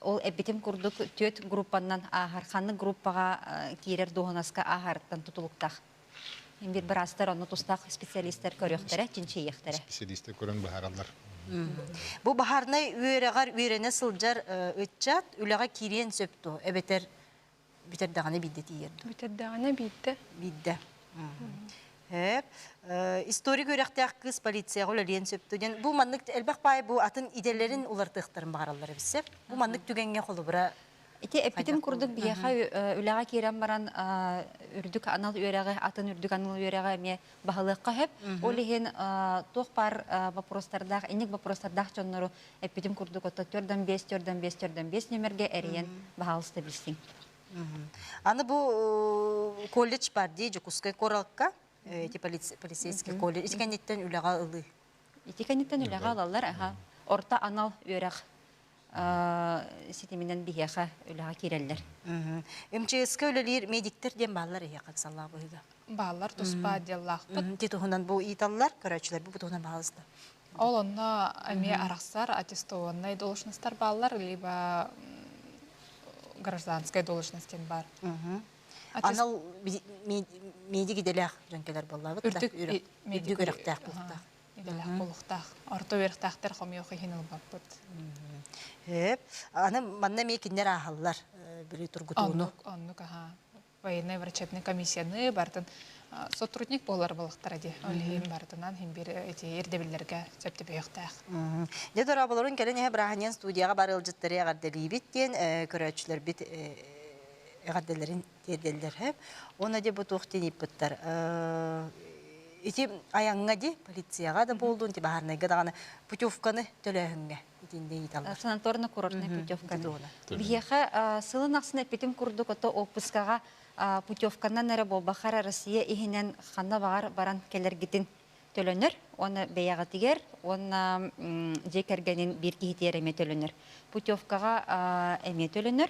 ол эппитим курдук түөт группаннан ааһар ханнык группаҕа киирэр дуоһунаска ааһарыттан тутулуктаах. Мин биир быраастар онно тустаах специалистар көрүөхтэрэ, чинчийиэхтэрэ. Специалистар көрөн быһаараллар. Бу баһаарынай үөрэҕэр үөрэнэ сылдьар ыччат үлэҕэ киириэн сөп дуо эбэтэр бүтэр даҕаны биирдэ тиийэр дуо? Бүтэр даҕаны биирдэ. Биирдэ. Историк үөрэхтээх кыыс полицияҕа үлэлиэн сөптө диэн бу маннык элбэх баай бу атын идэлэрин уларытыахтарын баҕараллар эбит сеп. Бу маннык түгэҥҥэ холобура Ити эппитим Хайдах курдук буолла? биһиэхэ э, үлэҕэ киирэн баран э, үрдүк анал үөрэҕи, атын үрдүк анал үөрэҕи эмиэ баһылыахха сөп. Ол иһин э, туох баар э, боппуруостардаах, инник боппуруостардаах дьоннору эппитим курдук отто төрт он бес, төрт он бес, төрт он бес нөмергэ эрийэн баһаалыста билсиҥ. Мгм. Аны бу э, колледж бар дии Дьокуускай куоракка э, эти полиц- полицейский колледж ис кэнниттэн үлэҕэ ылыы. Ити кэнниттэн үлэҕэ ылаллар, аха. Орто анал үөрэх ситиминэн биһиэхэ үлэҕэ киирэллэр. МЧС-ка үлэлиир медиктэр диэн бааллар эһиэхэ ыксаллаах быһыыга. Бааллар туспа диаллаахпыт. Титуһунан бу ыйыталлар, көрөөччүлэрбит бу туһунан баҕалыста. Ол онно эмиэ арахсар аттестованнай должностар бааллар, либо гражданскай должность диэн баар. Анал медик идэлээх дьоҥкелер боллаабыт да, үрдүк үрэхтээх бэлэх олухтаах орто үөрхтаахтар хомойох иһин ылбаппыт Эп, аны манна эмиэ кинилэр ааһаллар били тургутууну. Оннук, оннук, аха. Военная врачебная комиссияны бартын сотрудник болар балыктара ди. Олиин бартынан химбир эти ирдебиллерге сөптөбүйөхтаах. Де дораабаларын кэлен эһэ браһанен студияга бар ылжыттары эгардебибит диэн көрөөччүлөрбит эгарделерин тиэрдэллэр уона де бу туох динииппыттар ити айаҥҥа ди полицияҕа да буоллун ти баһаарнайга даҕаны путевканы төлөөһүҥҥэ итинде ыйыталлар санаторна курортнай путевканы биһиэхэ сылын ахсын эппитим курдук ото оппускаҕа путевканан эрэ буолбахар россия иһинэн ханна баҕар баран кэлэргитин төлөнөр уонна бэйэҕитигэр уонна дьиэ кэргэнин биир киһитигэр эмиэ төлөнөр путевкаҕа эмиэ төлөнөр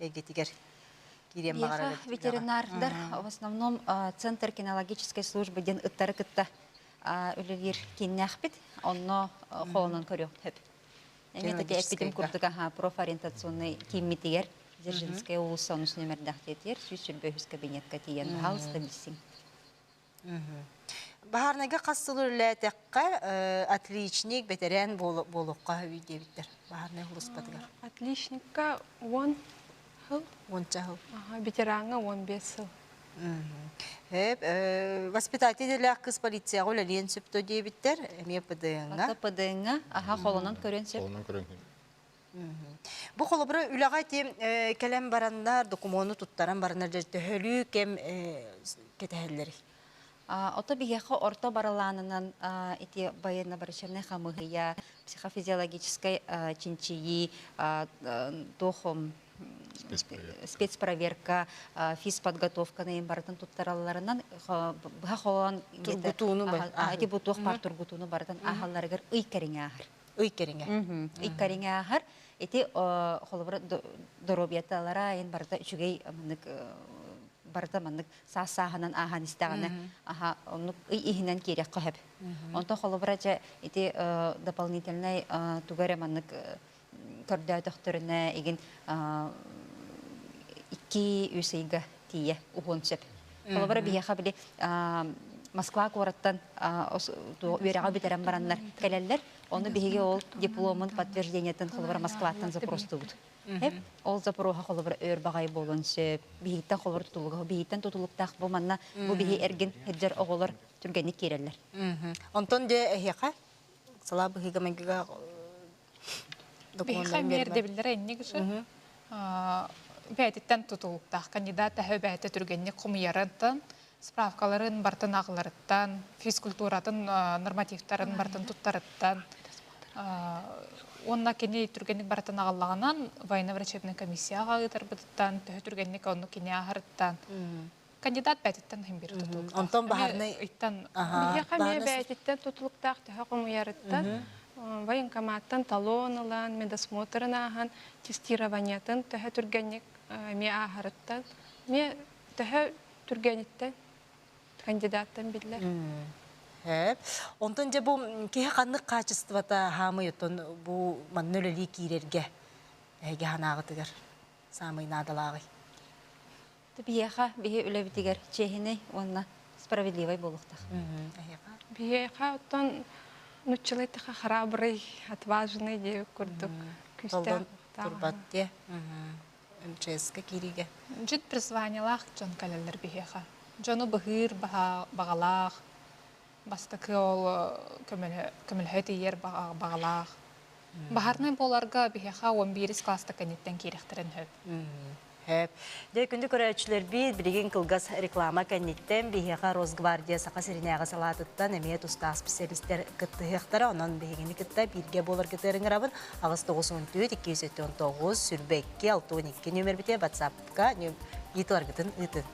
эйгэтигэр киириэн баҕарар ветеринардар в основном центр кинологической службы диэн ыттары кытта үлэлиир кииннээхпит онно холонон көрүөхпүт эпитим курдук профориентационный кииммитигэр Дзержинская областная нөмердэх диэтигэр сүүс сөрбө үһүс кабинетка тиийэн баһалыста билсиҥ Баһаарынайга хас сыл үлэлээтэххэ, отличник, бэтэрээн буолуохха үүй диэбиттэр баһаарынай улууспатыгар. Отличникка он сыл. Уонча сыл. Ветерааҥҥа он бес сыл. Өп, воспитатель кыс полицияҕа үлэлиэн сөптө диэбиттэр, эмиэ ПДН-га. ПДН-га, аха, холонон көрүөн сөп. Холонон көрүөн Бу холобура үлэҕэ ити кэлэн бараннар, докумуону туттаран бараннар төһөлүү кэм кэтэһэллэрий? Ото биһиэхэ орто барылаанынан ити военно-барычевнай хамыыһыйа, психофизиологическай чинчийии, туох спецпроверка, физподготовканы барытын туттаралларынан быһа холоон ити бу туох баар тургутууну барытын ааһалларыгар ый кэриҥэ ааһар. ый кэриҥэ. Ый кэриҥэ ааһар. Ити холобура доруобуйаталара айын барыта үчүгэй маннык барыта маннык саас сааһынан ааһан истэҕинэ аха оннук ый иһинэн киириэххэ хөп. Онто холобура дьэ ити дополнительнай туга эрэ маннык көрдөөтөхтөрүнэ игин икки үс ыйга тиийэ уһуон сөп. Холобура биһиэхэ били Москва куораттан үөрэҕи бүтэрэн бараннар кэлэллэр. Ону биһиги ол дипломун подтверждениетын холобура Москваттан запростуубут. Ол запоруха холобура өр баҕай буолуон сөп. Биһиттэн холобур тутулуга, биһиттэн тутулуктаах бу манна бу биһи эргин хеддер оҕолор түргэнник киирэллэр. Онтон дьэ эһиэхэ сала быһыыга-майгыга Биһиэхэ миэрдэбиллэрэ инник үсү бээтиттэн тутулуктаах кандидат эһэ бээтэ түргэнник хомуйарыттан справкаларын бартын аҕыларыттан физкультуратын нормативтарын бартын туттарыттан уонна кини түргэнник барытын аҕаллаҕынан военно-врачебнай комиссияҕа ыытарбытыттан төһө түргэнник оннук кини аһарыттан кандидат-бээтиттэн химбир тутулуктаах. Онтон баһарнай ыйтан биһиэхэ эмиэ бээтиттэн тутулуктаах төһө хомуйарыттан военкоматтан талон ылан, медосмотрын ааһан, тестированиетын төһө түргэнник эмиэ ааһарыттан, эмиэ төһө түргэниттэн кандидаттан биллэр. Онтон дьэ бу киһи ханнык хаачыстыбата хаамый оттон бу манна үлэлии киирэргэ эһиги санааҕытыгар саамай наадалааҕый? Биһиэхэ биһи үлэбитигэр чиэһинэй уонна справедливай буолуохтаах. Биһиэхэ оттон нуччалайтаха харабрый, отважный диэбит курдук күүстээх турбат диэ МЧС-ка киириигэ. Дьит призваниелаах дьон кэлэллэр биһиэхэ. Дьону быһыыр баҕалаах, Бастакы ол көмөлөһө тиийэр баҕалаах. Баһарынай буоларга биһиэхэ уон биирис класста кэнниттэн киириэхтэрин сөп. Сөп. Дьэ, күндү көрөөччүлэрбит, билигин кылгас реклама кэнниттэн биһиэхэ Росгвардия Саха сиринээҕи салаатыттан эмиэ тустаах специалистар кыттыһыахтара. Онон биһигини кытта бииргэ буоларгытыгар ыҥырабын. Аҕыс тоҕус уон түөрт, икки сүүс сэттэ уон тоҕус, сүүрбэ икки, алты уон икки нүмербитэ, батсаап ыытыларгытын ыытыҥ.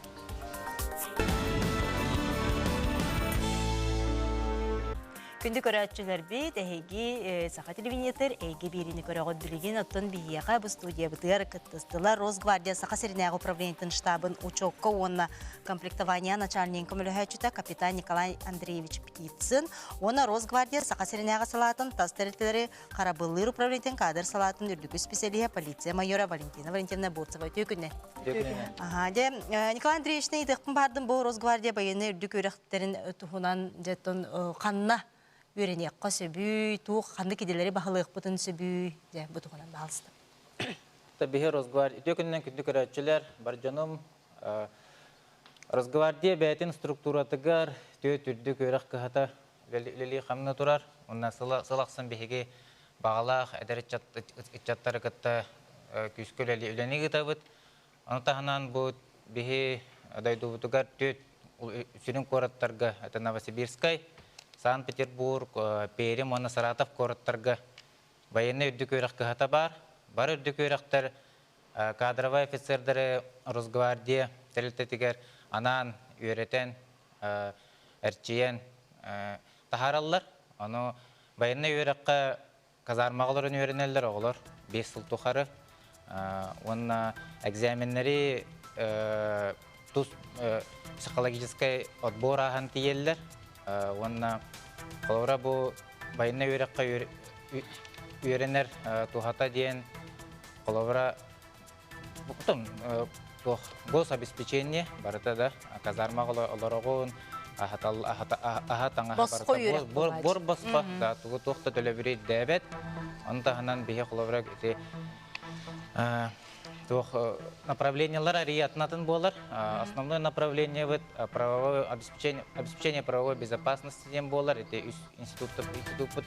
Күндү көрөөччүлэрбит, эһиги э, саха телевизитор эйгэ биэриини көрөҕүт билигин оттон биһиэхэ бу студиябытыгар кыттыстылар Росгвардия Саха сиринээҕи управлениетын штабын учуокка уонна комплектование начальнигын көмөлөһөөччүтэ капитан Николай Андреевич Птицын уонна Росгвардия Саха сиринээҕи салаатын тас тэрилтэлэри харабыллыыр управлениетын кадр салаатын үрдүкү специалиһа полиция майора Валентина Валентиновна Бурцева үтүөкүнэ. Аха, дьэ, Николай Андреевичны ыйдыахпын баардым бу Росгвардия байыны үрдүк үрэхтэрин туһунан дьэтон ханна үөрэниэххэ сөбүй, туох ханнык идэлэри баһылыахпытын сөбүй, дьэ, бу туһунан баалыстым. Биһи Росгвардия үтүөкүннэн күндү көрөөччүлэр, бар дьонум, Росгвардия бэйэтин структуратыгар, түөт үрдүк үөрэх кыһата Лили хамна турар уонна сыл ахсын биһиги баҕалаах эдэр ыччаттары кытта күүскэ үлэни ыытабыт. Ону таһынан бу биһи дойдубутугар түөрт сүрүн куораттарга, это Новосибирскай, Санкт-Петербург, Пермь уонна Саратов куораттарга байыаннай үрдүк үөрэх кыһата баар. Бары үрдүк үөрэхтэр кадровай офицердары Росгвардия тэрилтэтигэр анаан үөрэтэн, эрчийэн таһаараллар. Ону байыаннай үөрэххэ казармаҕа олорон үөрэнэллэр оҕолор биэс сыл тухары. Уонна экзаменнэри тус психологическай отбор ааһан тиийэллэр уонна холобура бу байынай үөрэххэ үөрэнэр туһата диэн холобура туох гособеспечение барыта да казарма олороҕун аһа таҥаһа буор босхо да тугу туох да төлөбүрүй дэбэт ону таһынан биһи холобура ити Туох направлениелар арии атынатын буолар. Основное направлениебыт правовое обеспечение, обеспечение правовой безопасности диэн буолар. Ити үс институтпут, институтпут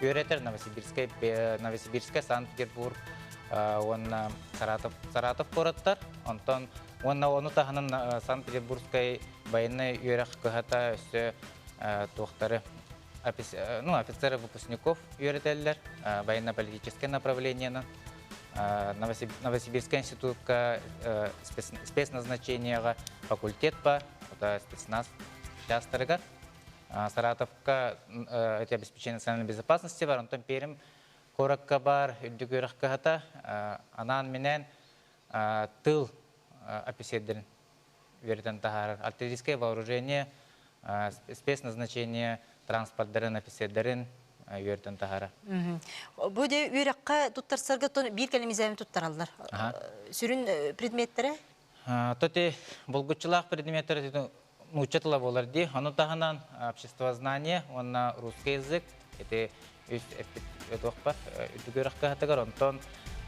үөрэтэр Новосибирскай, Новосибирскай, Санкт-Петербург уонна Саратов, Саратов куораттар. Онтон уонна ону таһынан Санкт-Петербургскай байынай үөрэх кыһата өссө туохтары ну, офицеры выпускников үөрэтэллэр военно-политическое направлениенан. Новосибирская институтка спецназначениеҕа факультет по спецназ учаастагар Саратовка эти обеспечение национальной безопасности бар, онтон перим коракка бар, үрдүк үрэх кыһата, анаан минээн тыл описердерин үөрэтэн таһаарар артиллерийское вооружение, спецназначение транспордарын, офицердарын үөртөн таһара. Бу де үөрэххэ туттарсарга биир кэлимизэбин туттараллар. Сүрүн предметтэрэ? Тоте булгуччулаах предметтер нуучча тыла буолар ди. Ону таһынан обществознание уонна русский язык, это үс эппит өтөхпөр үрдүк үөрэх кыһатыгар онтон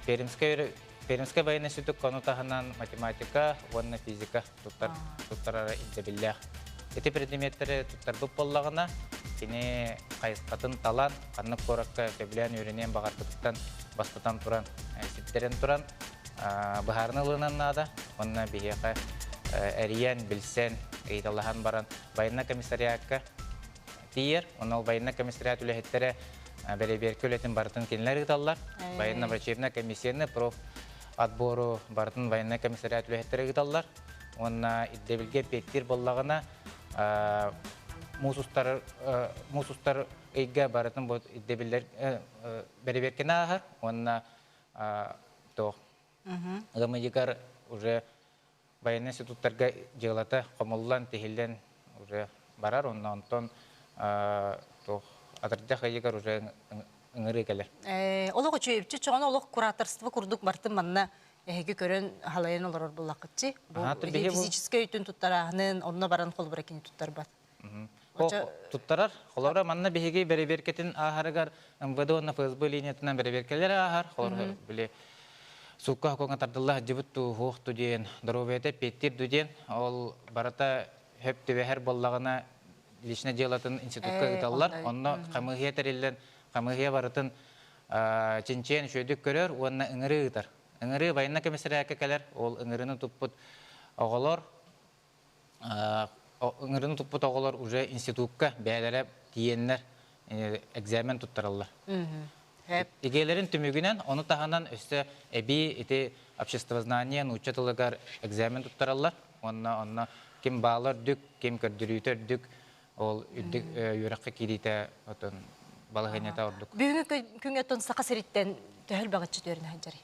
пермскай пермскай байыаннай сүтүк кону таһынан математика уонна физика туттар туттарара ирдэбиллээх ити предметтэри туттарбыт буоллаҕына кини хайысхатын талан ханнык куоракка сөбүлээн үөрэниэн баҕарбытыттан бастатан туран ситтэрэн туран быһаарына ылынан наада уонна биһиэхэ эрийэн билсэн ыйыталаһан баран военнай комиссариакка тиийэр. Онно байыаннай комиссариат үлэһиттэрэ бэрэбиэркэ үлэтин барытын кинилэр ыыталлар. Военно-врачебнай комиссияны проф отбору барытын военнай комиссариат үлэһиттэрэ ыыталлар. Уонна ирдэбилгэ эппиэттиир буоллаҕына, муус устар муус устар ыйга барытын бу ирдэбиллэр бэрэбиэркэни ааһар уонна тоох ыам ыйыгар уже байыаннай институттарга дьыалата хомуллан, тиһиллэн уже барар, онно онтон туох атырдах ыйыгар уже ыҥырыы кэлэр. Олох үчүөйүччү чоҕоно олох кураторство курдук бартын манна эһиги көрөн халайан олорор буллаххытчы. Бу физическэй өйтүн туттарааһынын, онно баран холобура кини туттарбат. туттарар. Холобура, манна биһиги бэрэбиэркэтин ааһарыгар МВД уонна ФСБ линиятынан бэрэбиэркэлэри ааһар. Холобура, били суукка хокуоҥҥа тардылла сылдьыбыт дуу, суох дуу диэн, доруобуйата эппиэттиир дуу диэн, ол барыта хөп түбэһэр буоллаҕына личное делотын институтка ыыталлар. Онно хамыыһыйа тэриллэн, хамыыһыйа барытын чинчийэн үчүгэйдик көрөр уонна ыҥырыы ыытар. Ыҥырыы байынна комиссарыакка кэлэр, ол ыҥырыыны туппут оҕолор ыҥырыны туппут оҕолор уже институкка бэйэлэрэ тиийэннэр экзамен туттараллар. Икиэлэрин түмүгүнэн, ону таһынан өссө эбии ити обществознание нуучча тылыгар экзамен туттараллар. Уонна онно ким баала үрдүк, ким көрдөрүүтэ үрдүк, ол үрдүк үөрэххэ киириитэ отон балаһыанньата ордук. Бүгүҥҥү күҥҥэ тон саха сириттэн төһөл баҕаччы түөрүн сылдьарый?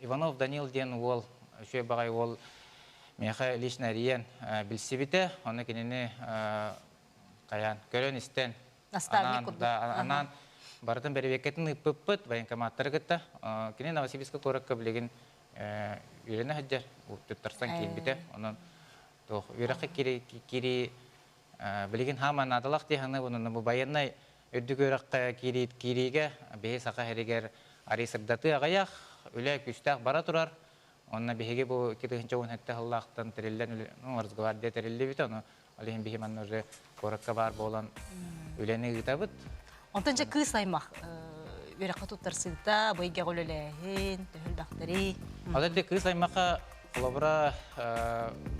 Иванов Данил диэн уол, үчүгэй баҕай уол миэхэ лично эрийэн билсибитэ. Ону кинини хайаан көрөн-истэн анаан барытын бэрэбиэркэтин ыыппыппыт, военкоматтары кытта. Кини Новосибирска куоракка билигин үөрэнэ сылдьар, туттарсан киирбитэ. Онон туох үөрэххэ кирии билигин хаамаа наадалаах дии саныыбын, бу байыаннай Үрдүк үөрэххэ киириигэ биһи Саха сиригэр арыый сырдатыы аҕыйах, үлэ күүстээх бара турар. Онно биһиги бу икки тыһыынча уон сэттэ сыллаахтан тэриллэн Росгвардия тэриллибитэ, ону ол иһин биһи манна уже куоракка баар буолан үлэни ыытабыт. Онтон дьэ кыыс аймах үөрэххэ туттарсыыта, быйгах үлэлээһин, төһөлбэхтэрий? Ол эрде кыыс аймаха Холобура,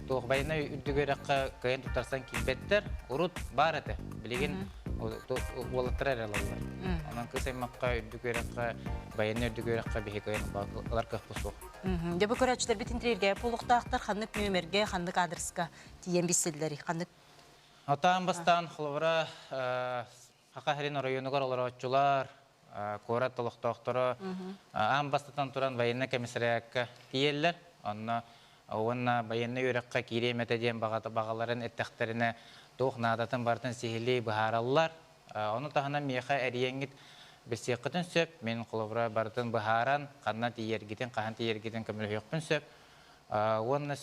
Туохбайна үрдүгү үрэххэ кыайан туттарсан киирбэттэр. Урут баар этэ. Билигин уолаттара эрэ ылаллар. Онон кыс аймахха үрдүкү үрэххэ, байыанна үрдүкү үрэххэ биһи кыайан ылар кыахпыт суох. Дьэ бу көрөөччүлэрбит интервьюга буолуохтаахтар. Ханнык нүөмэргэ, ханнык аадырыска тиийэн билсиллэрий? Ханнык? Атаан бастаан, холобура, Саха сирин оройуонугар олорооччулар, куорат олохтоохторо аан бастатан туран военнай комиссариатка тиийэллэр. Онно уонна байыаннай үөрэххэ киириэм этэ диэн баҕаларын эттэхтэринэ, туох наадатын барытын сиһилии быһаараллар. Ону таһынан миэхэ эрийэҥҥит билсиэххитин сөп, мин холобура барытын быһааран, ханна тиийэргитин, хаһан тиийэргитин көмөлөһүөхпүн сөп. Уонна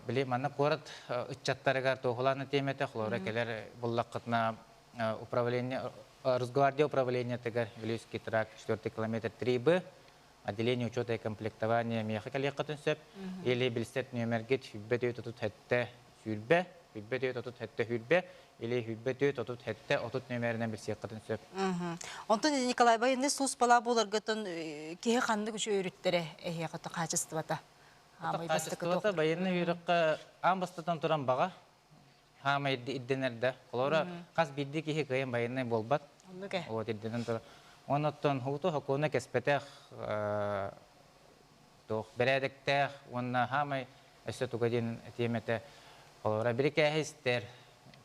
Били манна куорат ыччаттарыгар туоһулаана тиэмэтэ хлора кэлэр буллаххытына управление Росгвардия управлениетыгар Илюский тракт 4 километр 3Б отделение учета и комплектования миэхэ кэлиэххитин сөп или билсет нүөмэргит сүүрбэ түөрт отут сэттэ сүүрбэ сүүрбэ түөрт отут сэттэ сүүрбэ или сүүрбэ түөрт отут сэттэ отут нүөмэринэн билсиэххитин сөп Онтон Николай байынны суспала буларгытын киһи ханнык үч өрүттэрэ эһиэхэ хаачыстыбата Хаамай бастакыта байыаннай үөрөххө аан бастатан туран баҕа хаамай ирдэнэр да. Холора хас биирдии киһи кыайын байыаннай буолбат. Вот ирдэнэн турар. Оннуттан ууту хокуона кэспэтэх туох бэрээдэктээх уонна хаамай өссө туга диэн тиэмэтэ холора бирикээһи истэр,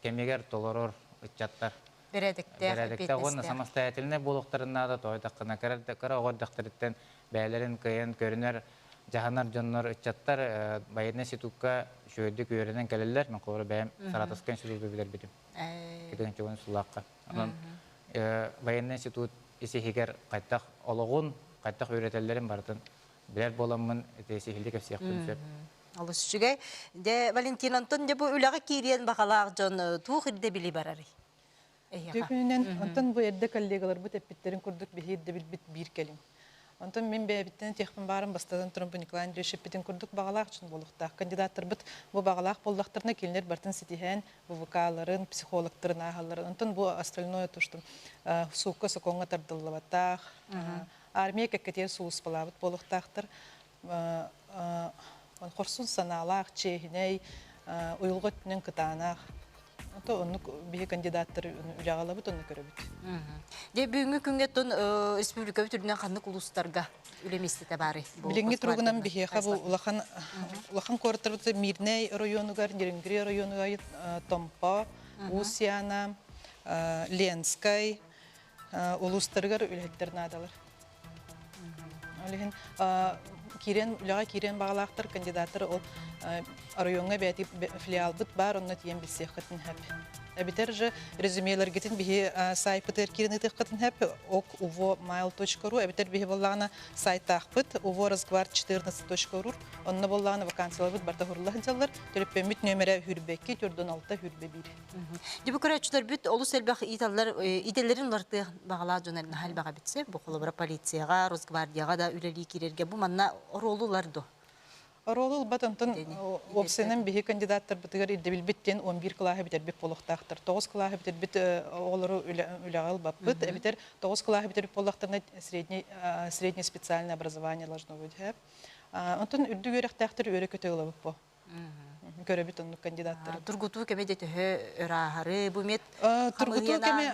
кэмигэр толорор ыччаттар Бэрээдэктээх, Бэрээдэктээх уонна самостоятельнай буолуохтарын наада, тоойдаххына кыра оҕордохторуттан бэйэлэрин кыайан көрүнэр дьаһанар дьоннор, ыччаттар байыаннай институкка үчүгэйдик үөрэнэн кэлэллэр. Мен холобура бэйэм Саратовскай институту билэрбитим. Кытынчугун сулаакка. Онон байыаннай институт ис иһигэр хайдах олоҕун, хайдах үөрэтэллэрин барытын билэр буоламмын, ити сиһилии кэпсиэхпин сөп. Олус үчүгэй. Де Валентин Антон де бу үлэҕэ киириэн баҕалаах дьон э, туох ирдэбили барарый? Эһиэхэ. Дьөкүнүнэн онтон бу эрдэ коллегаларбыт эппиттэрин курдук биһи ирдэбилбит биир кэлим. Онтон мин бэйэбиттэн этиэхпин баарым, бастатан туран, бу Николай Андреевич эппитин курдук баҕалаах дьон буолуохтаах. Кандидаттарбыт бу баҕалаах буоллахтарына, кинилэр бартын ситиһээн, ВВК-ларын, психологтарын ааһалларын, онтон бу остальное то, что э, суукка, сокуоҥҥа тардыллыбатах, э, армия кэккэтигэр сулууспалаабыт буолуохтаахтар. хорсун санаалаах, чиэһинэй, уйулҕа өттүнэн кытаанах. То оннук биһи кандидаттар үлэҕалабыт онно көрөбүт. Дьэ бүгүҥҥү күҥҥэ тон республикабыт үрдүнэн ханнык улуустарга үлэ миэстэтэ баарый? Билиҥҥи туругунан биһиэхэ бу улахан улахан куораттарбыт Мирнэй оройуонугар, Нерюнгри оройуонугар Томпо, Уус-Яна, Ленскэй, улуустарыгар үлэһиттэр наадалар. Ол иһин киирэн үлэҕэ киирэн баҕалаахтар кандидаттар ол оройуоҥҥа бэти филиалбыт баар онно тиийэн билсиэххитин сөп. Эбитэр же резюмелэргитин биһи сайтпытыгар киирэн ыытыаххытын сөп ок uvo mail.ru эбитэр биһи буоллаҕына сайтаахпыт uvo разгвар 14.ру онно буоллаҕына вакансияларбыт барта хурулла сылдьаллар төлөппөммүт нөмерэ хүрбэкки 416 хүрбэ 1 Дьиби көрөөччүлэрбит олус элбэх ииталлар идэлэрин уларытыах баҕалаах дьон наһаа элбэҕэ битсэ бу холобура полицияҕа Росгвардияҕа да үлэлии киирэргэ бу манна оруолу ылар дуо Оруолу ылбат онтон уопсайынан биһи кандидаттарбытыгар ирдэбилбит диэн 11 кылааһы бүтэрбит буолуохтаахтар. 9 кылааһы бүтэрбит оҕолору үлэҕэ ылбаппыт. Эбэтэр 9 кылааһы бүтэрбит буоллахтарына средний, среднее специальное образование должно быть. Онтон үрдүк үөрэхтээхтэр үөрэ-көтө ылабыт бу. көрөбүт оннук кандидаттары тургутуу кэми де төһө ырааһары бу мет тургутуу кэми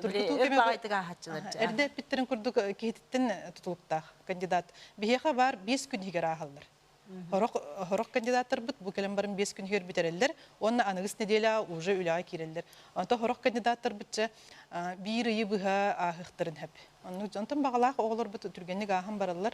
тургутуу кэми баайтыгаахаччылар эрдэ эппиттерин курдук киһититтин тутулуктаах кандидат биһиэхэ баар биэс күн иһигэр ааһаллар хорох хорох кандидаттарбыт бу кэлэн баран биэс күн иһигэр бүтэрэллэр уонна аныгыс неделя уже үлэҕэ киирэллэр онто хорох кандидаттарбытча биир ыйы быһа ааһыахтарын сөп онтон баҕалаах оҕолорбут түргэнник ааһан бараллар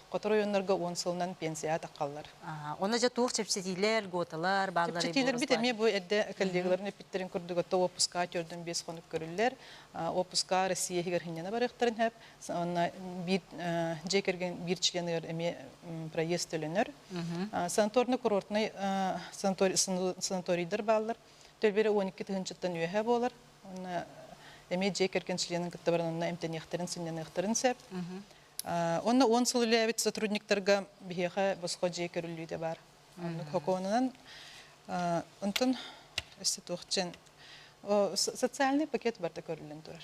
Сотору ойоннорго уон сылынан пенсияҕа таххаллар. Ону дьэ туох чэпчэтиилэр, гуоталар бааллар? Чэпчэтиилэрбит эмиэ бу эрдэ коллегаларын эппиттэрин курдук, оттон уоппускаҕа түөртэн биэс хонук көрүллэр. Уоппускаҕа Россия иһигэр сынньана барыахтарын сөп. Уонна биир дьиэ кэргэн биир членыгар эмиэ проезд төлөнөр. Санаторнай-курортнай санаторийдар бааллар. Төлбүрэ он икки тыһыынчаттан үөһэ буолар. Уонна эмиэ дьиэ кэргэн членын кытта баран онно эмтэниэхтэрин, сынньаныахтарын сөп. Онно уон сыл үлэлээбит сотрудниктарга биһиэхэ босхо дьиэ көрүллүүтэ баар. Оннук хокуонунан онтон өссө туохчен социальный пакет барда көрүллэн турар.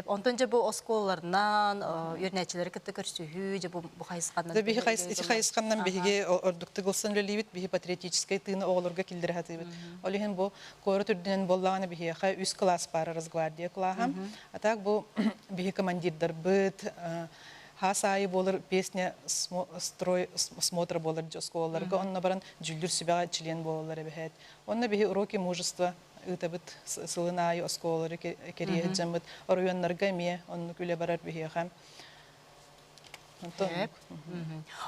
Онтон же бу оскуолаларынан үөрнээччилэри кытта көрсүһүү же бу хайысханнан Да биһи хайысханнан биһиги ордуктук ылсан үлэлиибит биһи патриотическай тыыны оҕолорго киллэре сатыыбыт. Ол иһин бу Куорат үрдүнэн буоллаҕына биһиэхэ үс кылаас баара Росгвардия кылааһа. А так бу биһи командирдарбыт хаас аайы буолар песня строй смотра буолар оскуолаларга онно баран дьүүллүр сүбэҕэ член буолаллар эбэһээт. Онно биһи уроки мужество ыытабыт сылын аайы оскуолалары кэрийэ сылдьаммыт оройуоннарга эмиэ оннук үлэ барар биһиэхэ. Онтон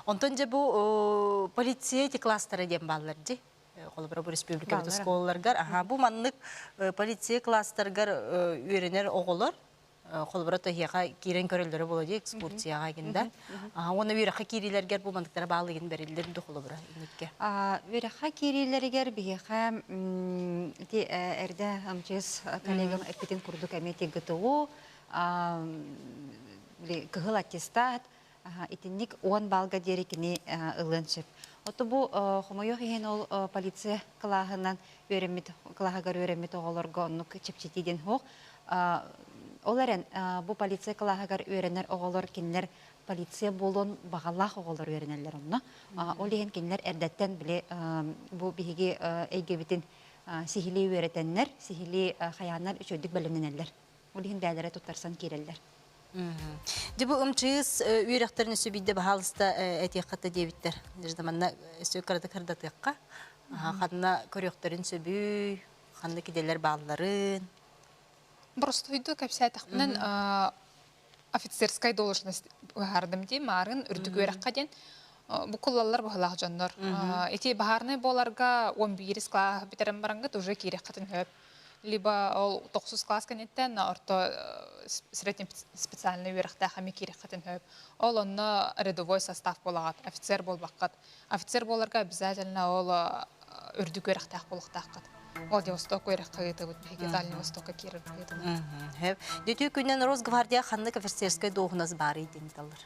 Онтон дьэ бу полиция эти кластера диэн бааллар дии. холобура бу республикабыт оскуолаларгар аха бу маннык полиция класстаргар үөрэнэр оҕолор холобура тыһыаха киирэн көрөллөрө буола дии экскурсияҕа гинда аха уонна үөрэххэ киириилэргэр бу мантыктара баалыгын бериллер до холобура инникке үөрэххэ киириилэригэр биһиэхэ ити эрдэ амчыс коллегам эппитин курдук эми тиггтугу кыһыл аттестат Итинник уон баллга диэри кини ылыан сөп. Оту бу хомойуох иһин ол полиция кылааһынан үөрэммит кылааһыгар үөрэммит оҕолорго оннук чэпчэтии диэн суох. Ол эрэн бу полиция кылааһыгар үөрэнэр оҕолор кинилэр полиция буолуон баҕалаах оҕолор үөрэнэллэр онно. Ол иһин кинилэр эрдэттэн били бу биһиги эйгэбитин сиһилии үөрэтэннэр, сиһилии хайааннар үчүгэйдик бэлэмнэнэллэр. Ол иһин бээлэрэ туттарсан киирэллэр. Дьэ бу ымчыыс үөрэхтэрин өссө биирдэ баһаалыста этиэххэ да диэбиттэр. Даже манна өссө кырата кырдатыахха. Ханна көрүөхтэрин сөбүй, ханна киделэр баалларын. Боростуойду кэпсээтэхпинэн офицерскай должность быһаардым дии маарын үрдүк үөрэххэ диэн бу куллаллар быһылаах дьоннор ити баһаарынай буоларга он биирис класс бүтэрэн барангыт уже киирэххэтин хөп либо ол тохсус класс кэнниттэн орто среднем специальный үөрэхтээх эми киирэххэтин хөп ол онно рядовой состав буолаҕат офицер буолбаккат офицер буоларга обязательно ол үрдүк үөрэхтээх буолуохтааххыт ол Востокка үөрэххэ ыытыбыт биһиги Дальний Востокка киирэр ыытыбыт Дүтү күнүн Росгвардия ханнык офицерскай дуоһунас баарый диэн талыр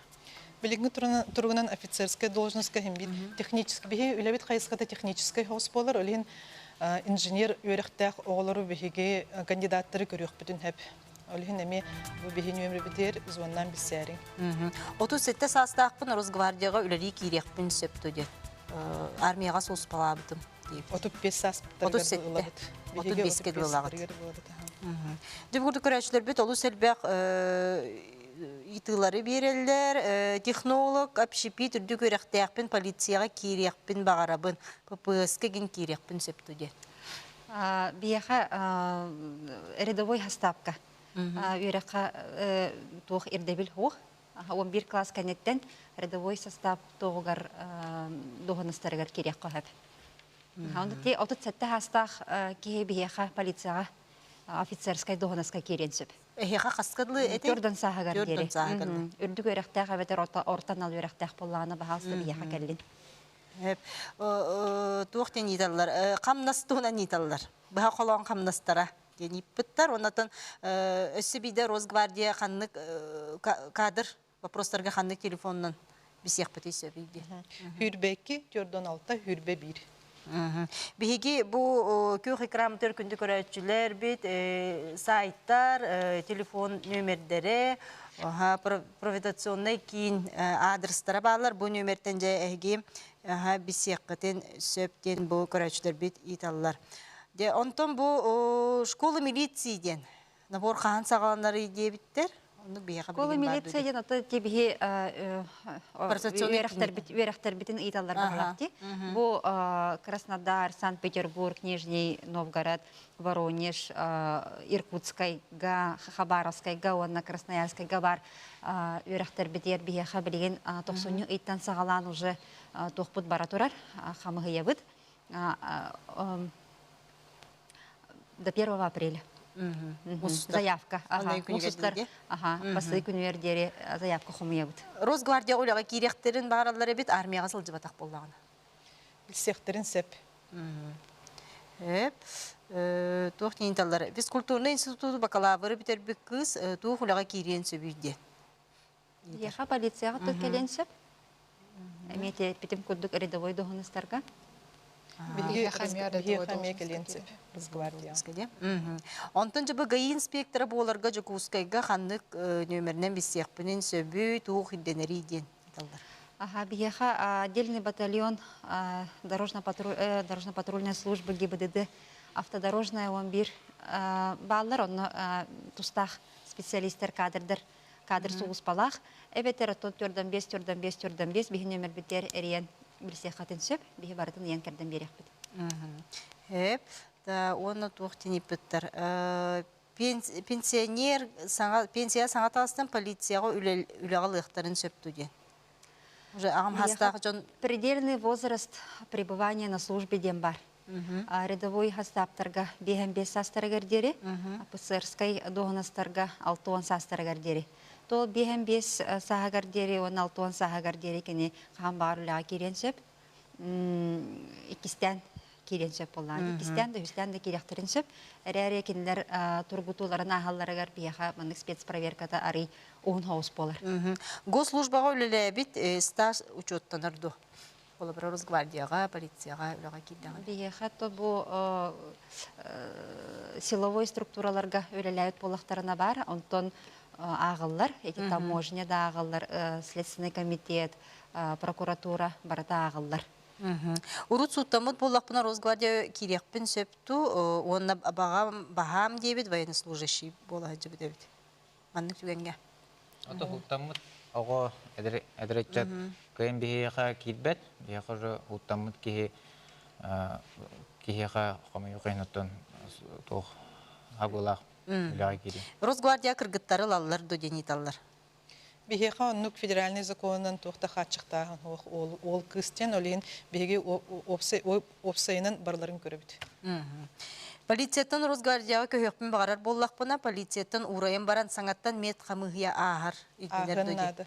Билигин туругунан офицерская должностка химбит технический биһи үлэбит хайысхата технический хос болар олин инженер үөрэхтээх оҕолору биһиги кандидаттары көрүөхпүтүн хэп Ол иһин эмиэ бу биһи нүөмүрбитигэр звоннан билсээриҥ. Отут сэттэ саастаахпын Росгвардияҕа үлэлии киириэхпин сөп дуо диэн армияҕа сууспалаабытым диир. Отут бес сааспыттарыгар ылабыт. Отут беске дуулаҕыт. Дьыбгырды көрөөчүлэрбит олус элбэх ыйтыылары биэрэллэр. Технолог, общепит үрдүк үөрэхтээхпин, полицияҕа киириэхпин баҕарабын. ППС-ка киириэхпин сөп дуо диэн. Биһиэхэ рядовой хастаапка үөрэххэ туох ирдэбил суох. Уон биир кылаас кэнниттэн рядовой састаап туоһугар дуоһунастарыгар кириэххэ сөп. Онно ти отут сэттэ саастаах киһи биһиэхэ полицияҕа офицерскай дуоһунаска киириэн сөп. Эһиэхэ хаскыдлыы эти? Төрдөн сааһыгар диэри. Үрдүк үөрэхтээх эбэтэр орто анал үөрэхтээх буоллаҕына баһаалыста биһиэхэ кэллин. туох диэн ииталлар хамнас туһунан ииталлар быһа холоон хамнастара диэн ииппыттар оннотон өссө биирдэ росгвардия ханнык кадр вопростарга ханнык телефонунан бисиэхпитий сөбүй диэн хүрбэ икки төрдөн алта хүрбэ биир Биһиги бу күөх экран төр күндү көрөөччүлэр бит сайттар телефон нөмердere провитационнай киин аадырыстара бааллар бу нүөмэртэн дьэ эһиги билсиэххитин сөп диэн бу көрөөччүлэрбит ыыталлар Де онтон бу школа милиции диэн набор хаһан саҕаланарый диэбиттэр Онну биһиэхэ Школа милиция диэн аты кибиһи үөрэхтэрбитин ыйталлар барлапти. Бу Краснодар, Санкт-Петербург, Нижний Новгород Воронеж, Иркутскайга, Хабаровскайга уонна Красноярскайга баар үөрэхтэрбитигэр биһиэхэ билигин тохсунньу ыйтан саҕалаан уже туохпут бара турар, хамыһыйабыт до 1 апреля. заявка мусустар бастыы күнүгэр диэри заявка хомуйабыт росгвардия үлэҕэ киириэхтерин баараллар эбит армияҕа сылдьыбатах буоллаҕына Билсиэхтэрин сөп. Эп туох диэн физкультурный институту бакалавры бүтэрбит кыыс туох үлэҕэ киириэн сөбүй диэн. Еха полицияға тут кэлен сөп. Эмиэ битим курдук рядовой доһунустарга. Онтон жабы ГАИ инспектора буоларга Жукускайга ханнык нөмеринен биссиэхпинин сөбүй, туох ирденери диэн. Биһиэхэ отдельный батальон дорожно-патрульной службы ГИБДД автодорожная он бир бааллар онно тустаах специалистер кадрдар кадр сулуспалаах эбэтэр оттон төрдөн бес төрдөн бес төрдөн бес биһин өмөрбүттер эриен билсиэхатын сөп биһи барытын ыйан кэрден биэриэхпит эп да уонна туох тиниппиттер пенсионер саҥа пенсия саҥа таастан полицияҕа үлэҕэ ылыахтарын сөп ту диэн уже аҕам хастаах дьон предельный возраст пребывания на службе диэн бар рядовой хастааптарга биэһэн биэс саастарыгар диэри офицерскай дуоһунастарга алты уон саастарыгар диэри то биэһэн биэс сааһыгар диэри уонна алты уон сааһыгар диэри кини хаан баҕар үлэҕэ киириэн сөп иккистээн киириэн сөп буоллаҕа. Иккистээн да үһүстээн да киириэхтэрин сөп. Эрээри кинилэр тургутууларын ааһалларыгар биһиэхэ маннык спецпроверката арый уһун соҕус буолар. Госслужбаҕа үлэлээбит стаж учуоттанар дуо? Холобура Росгвардияҕа, полицияҕа үлэҕэ киирдэҕэ. Биһиэхэ то бу силовой структураларга үлэлээбит буоллахтарына баар, онтон ааҕыллар, эти таможня да ааҕыллар, Следственный комитет, прокуратура барыта ааҕыллар. Урут сууттаммыт буоллахпына Росгвардия киириэхпин сөпту уонна баҕам баһаам диэбит военнослужащий буола сылдьыбыт эбит. Маннык түгэнгэ. Ото сууттаммыт оҕо эдэрэтчэт кыйын биһиэхэ киирбэт, биһиэхэ уже уттаммыт киһи киһиэхэ хомойу кайнаттан туох агылаах үлэҕэ киирин. Росгвардия кыргыттары ылаллар до день италлар. Биһиэхэ оннук федеральнай законунан туох да хааччахтааһын суох. Уол, уол кыыс диэн ол иһин биһиги уопсай, уопсайынан барыларын көрөбүт. Полицияттан Росгвардияҕа көһүөхпүн баҕарар буоллахпына, полицияттан уурайан баран саҥаттан мед хамыыһыйа ааһар. Итинэр ааһыан наада.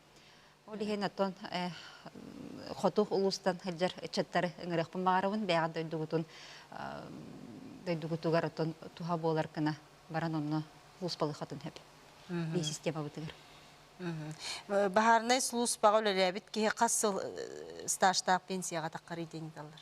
Ол иһин оттон хоту улуустан сылдьар ыччаттары ыҥырыахпын баҕарабын бэйэҕин дойдугутун дойдугутугар оттон туһа буолар гына баран онно улууспалыхатын сөп бии системабытыгар баһаарынай сулууспаҕа үлэлээбит киһи хас сыл стажтаах пенсияҕа таххарый диэн даллар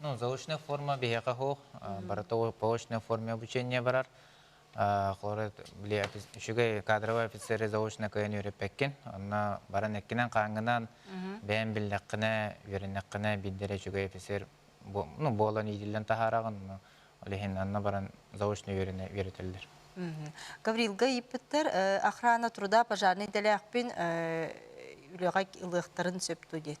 Ну, заочная форма биһиэхэ суох, барыта полочная форме обучение барар. Холоро били үчүгэй кадровый офицеры заочно кыйын үөрэппеккин. Онно баран эккинен хаангынан бэйэн биллэххинэ, үөрэннэххинэ биддere үчүгэй офицер ну буолан иитиллэн таһаараҕын. Ол иһин анна баран заочно үөрэнэ үөрэтэллэр. Гаврилга иппиттер охрана труда пожарный дэлээхпин үлэҕэ ылыахтарын сөпту диет.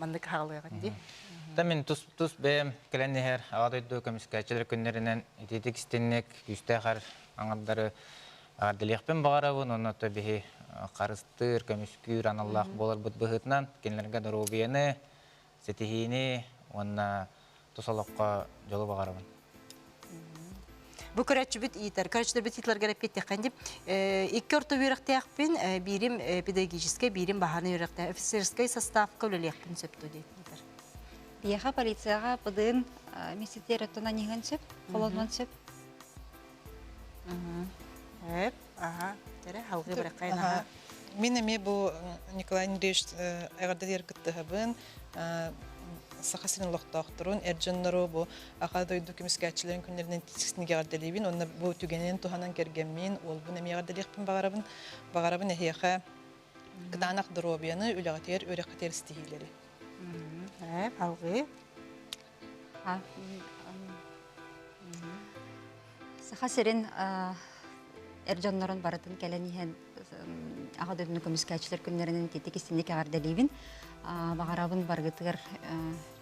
маннык хаалыаҕын дии. Та мин тус тус бэйэм кэлэн иһэр аҕа дойду көмүскээччилэр күннэринэн ититик истинник күүстээх аңардары эҕэрдэлиэхпин баҕарабын уонна то биһи харыстыыр, көмүскүүр аналлаах буоларбыт быһыытынан кинилэргэ доруобуйаны, ситиһиини уонна тус олоххо дьолу баҕарабын бу көрөччүбүт иитэр көрөччүбүт иитлэргэр эппиэттиэххин дип икки орто үөрэхтээхпин биирим педагогическай биирим баһааны үөрэхтээх офицерскай составка үлэлиэхпин сөптө диэтэр Еха полицияға пдн мистер өттін анығын сөп, қолонын сөп. Эп. Мин эмиэ бу Николай Андреевич эҕэрдэлиэр кыттыһабын Саха сирин олохтоохторун, эр дьоннору бу Аха дойду көмүскээччилэрин күннэринэн тиискинник эҕэрдэлиибин. Онно бу түгэнинэн туһанан кэргэммин, уолбун эмиэ эҕэрдэлиэхпин баҕарабын. Баҕарабын эһиэхэ кытаанах доруобуйаны, үлэҕитигэр, үөрэххитигэр ситиһиилэри. Алҕыы. Саха сирин эр дьоннорун барытын кэлэн иһэн Аҕа дойдуну көмүскээччилэр күннэринэн итиитик истинник эҕэрдэлиибин. Баҕарабын барыгытыгар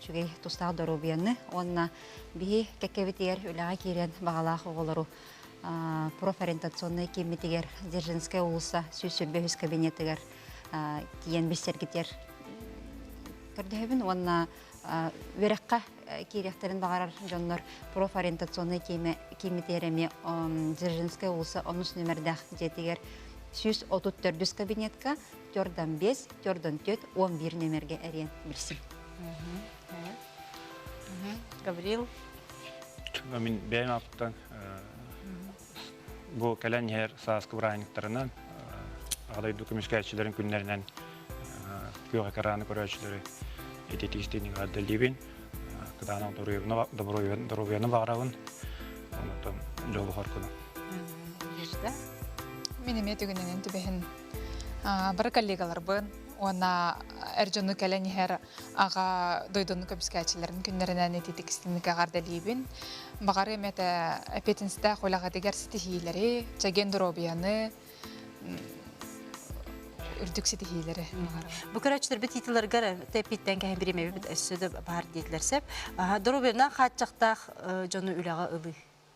үчүгэй тустаах доруобуйаны уонна биһи кэккэбитигэр үлэҕэ киирэн баҕалаах оҕолору профориентационнай кииммитигэр Дзержинская уулусса сүүс сүүрбэ үһүс кабинетыгар тиийэн билсэргитигэр көрдөһөбүн уонна үөрэххэ киириэхтэрин баҕарар дьоннор профориентационнай кииммитигэр эмиэ Дзержинская уулусса онус нүмердээх дьиэтигэр сүүс отут төрдүс кабинетка төрт он бес төрт он төрт он бир номерге эриэн билсин Гаврил мин бэйэм аптан Бу кэлэн иһэр сааскы бырааһынньыктарынан Аҕа дойду көмүскээччилэрин күннэринэн күөх экраны көрөөччүлэри ититик истиэнньэгэ ардыллибин. Кытаанах доруобуйаны баҕарабын. Онтон дьолуһар күнү. Ежда, мин эмиэ түгэнинэн түбэһин. Бары коллегаларбын уонна эр дьону кэлэн иһэр аҕа дойдуну көбүскээччилэрин күннэринэн ититик истиҥникэҕэр дэлиибин баҕарым этэ эпетинстээх үлэҕитигэр ситиһиилэри чэгиэн доруобуйаны үрдүк ситиһиилэри бу көрөөччүлэрбит титулларыгар тэппиттэн кэһэн бириэмэбит өссө да баар диэтилэр сэп доруобуйаннаах хааччахтаах дьону үлэҕэ ылыы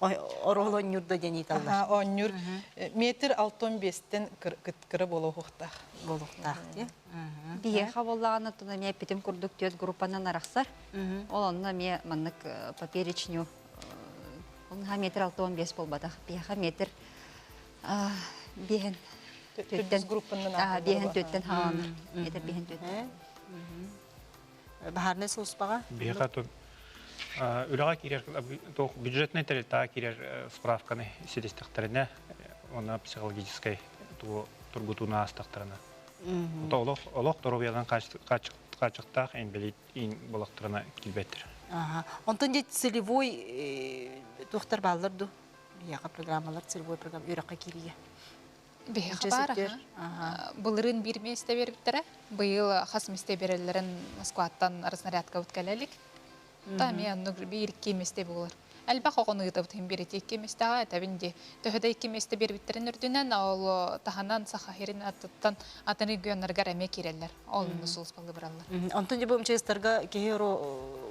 Орол оонньуур да диэн ыыталлар. Оонньуур метр алты он биэстен кыра буола уһуктаах. Буолуохтаах диye. Биһиэхэ боллаҕын оттуна эмиэ эппитим курдук түөт группанан арахсар. Ол онно эмиэ маннык поперечню ол метр алты он биэс буолбатах. Биһиэхэ метр биэһин түөттен группанан биэһин түөттен хааланар. Метр биэһин түөттен. баһаарынай сулууспаҕа биһиэхэ үлэҕэ киирэр бюджетнай тэрилтэҕэ киирэр справканы ситистэхтэринэ уонна психологическай тургутууну аастахтарына олох олох доруобуйанан хааччыктаах инбэлиит буолахтарына киирбэттэр онтон дьэ целевой э, туохтар бааллар ду биһиэхэ программалар целевой программ үрэххэ кииригэ Биһиэхэ баар былырыын биир миэстэ биэрбиттэрэ. Быйыл хас миэстэ биэрэллэрин Москваттан разнарядкабыт кэлэ илик. Та эмиэ оннук биир-икки миэстэ буолар. Элбэх оҕону ыытабытын биэрэти икки миэстэҕэ этэбин дии. Төһө да икки миэстэ биэрбиттэрин үрдүнэн ол таһынан Саха сирин аттыттан атын регионнарыгар эмиэ киирэллэр. Ол иннинэ сулууспалыы бараллар. Онтон дьэ бу МЧС-тарга киһи уру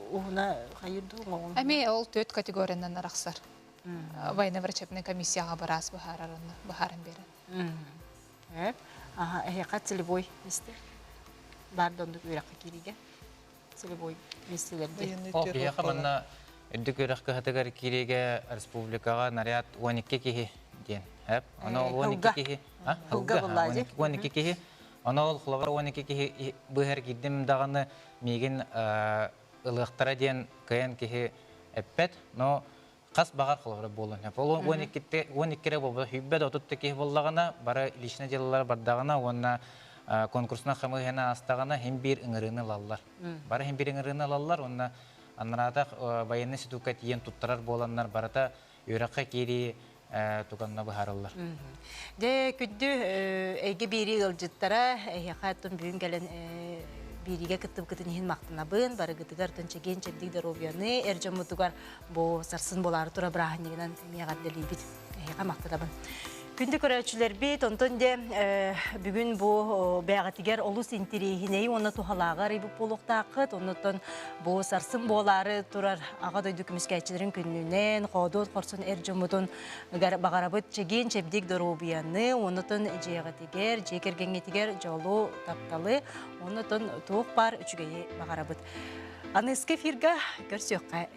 уһуна хайыр дуу оҥоҕун? Эмиэ ол түөрт категориянан арахсар. военно-врачебнай комиссияҕа быраас быһааран биэрэн. Аха, эһиэхэ целевой мисте. Баар да оннук үөрэххэ киириигэ. Целевой мистилэрди. Эһиэхэ манна үрдүк үөрэх кыһатыгар киириигэ республикаҕа наряд 12 киһи диэн. Эп, ана 12 киһи. Хылга буллаажи. 12 киһи. Ана ол хловар 12 киһи быһар кирдим даҕаны миигин ылыахтара диэн кыайан киһи эппэт, но хас баҕар холобура буолуон сөп. Ол уон иккитэ уон иккирэ буолбат сүүрбэ да отутта киһи буоллаҕына, бары личнэй дьыалалар бардаҕына уонна конкурсунан хамыыһыйаны аастаҕына иһин биир ыҥырыыны ылаллар. Бары иһин биир ыҥырыыны ылаллар уонна аннараатах байыаннай ситуука тиийэн туттарар буоланнар барыта Үөрэххэ киирии туганна быһаарыллар. Дэ күндү эйгэ биэрии ыалдьыттара, эһиэхэ аттын бүгүн кэлэн биэриигэ кыттыбыкытын иһин махтанабын, барыгытыгар көнчэгиэн чэбдик доруобуйаны, эр дьоммутугар бу сарсын буолаары тура бырааһынньыгынан миэҕэрдэлиибит. Эһиэхэ махтанабын. Күндү көрөөччүлэрбит, онтон де бүгүн бу бэҕэтигэр олус интириэһинэйи уонна туһалааҕы арыйбыт буолуохтааххыт. Оннуттан бу сарсын буолаары турар Аҕа дойду көмүскээччилэрин күннүнэн хоодуот хорсун эр дьоммутун баҕарабыт чэгиэн чэбдик доруобуйаны, оннуттан дьиэҕитигэр, дьиэ кэргэҥҥитигэр дьолу, тапталы, оннуттан туох баар үчүгэйи баҕарабыт. Аныгы эфирга көрсүөххэ.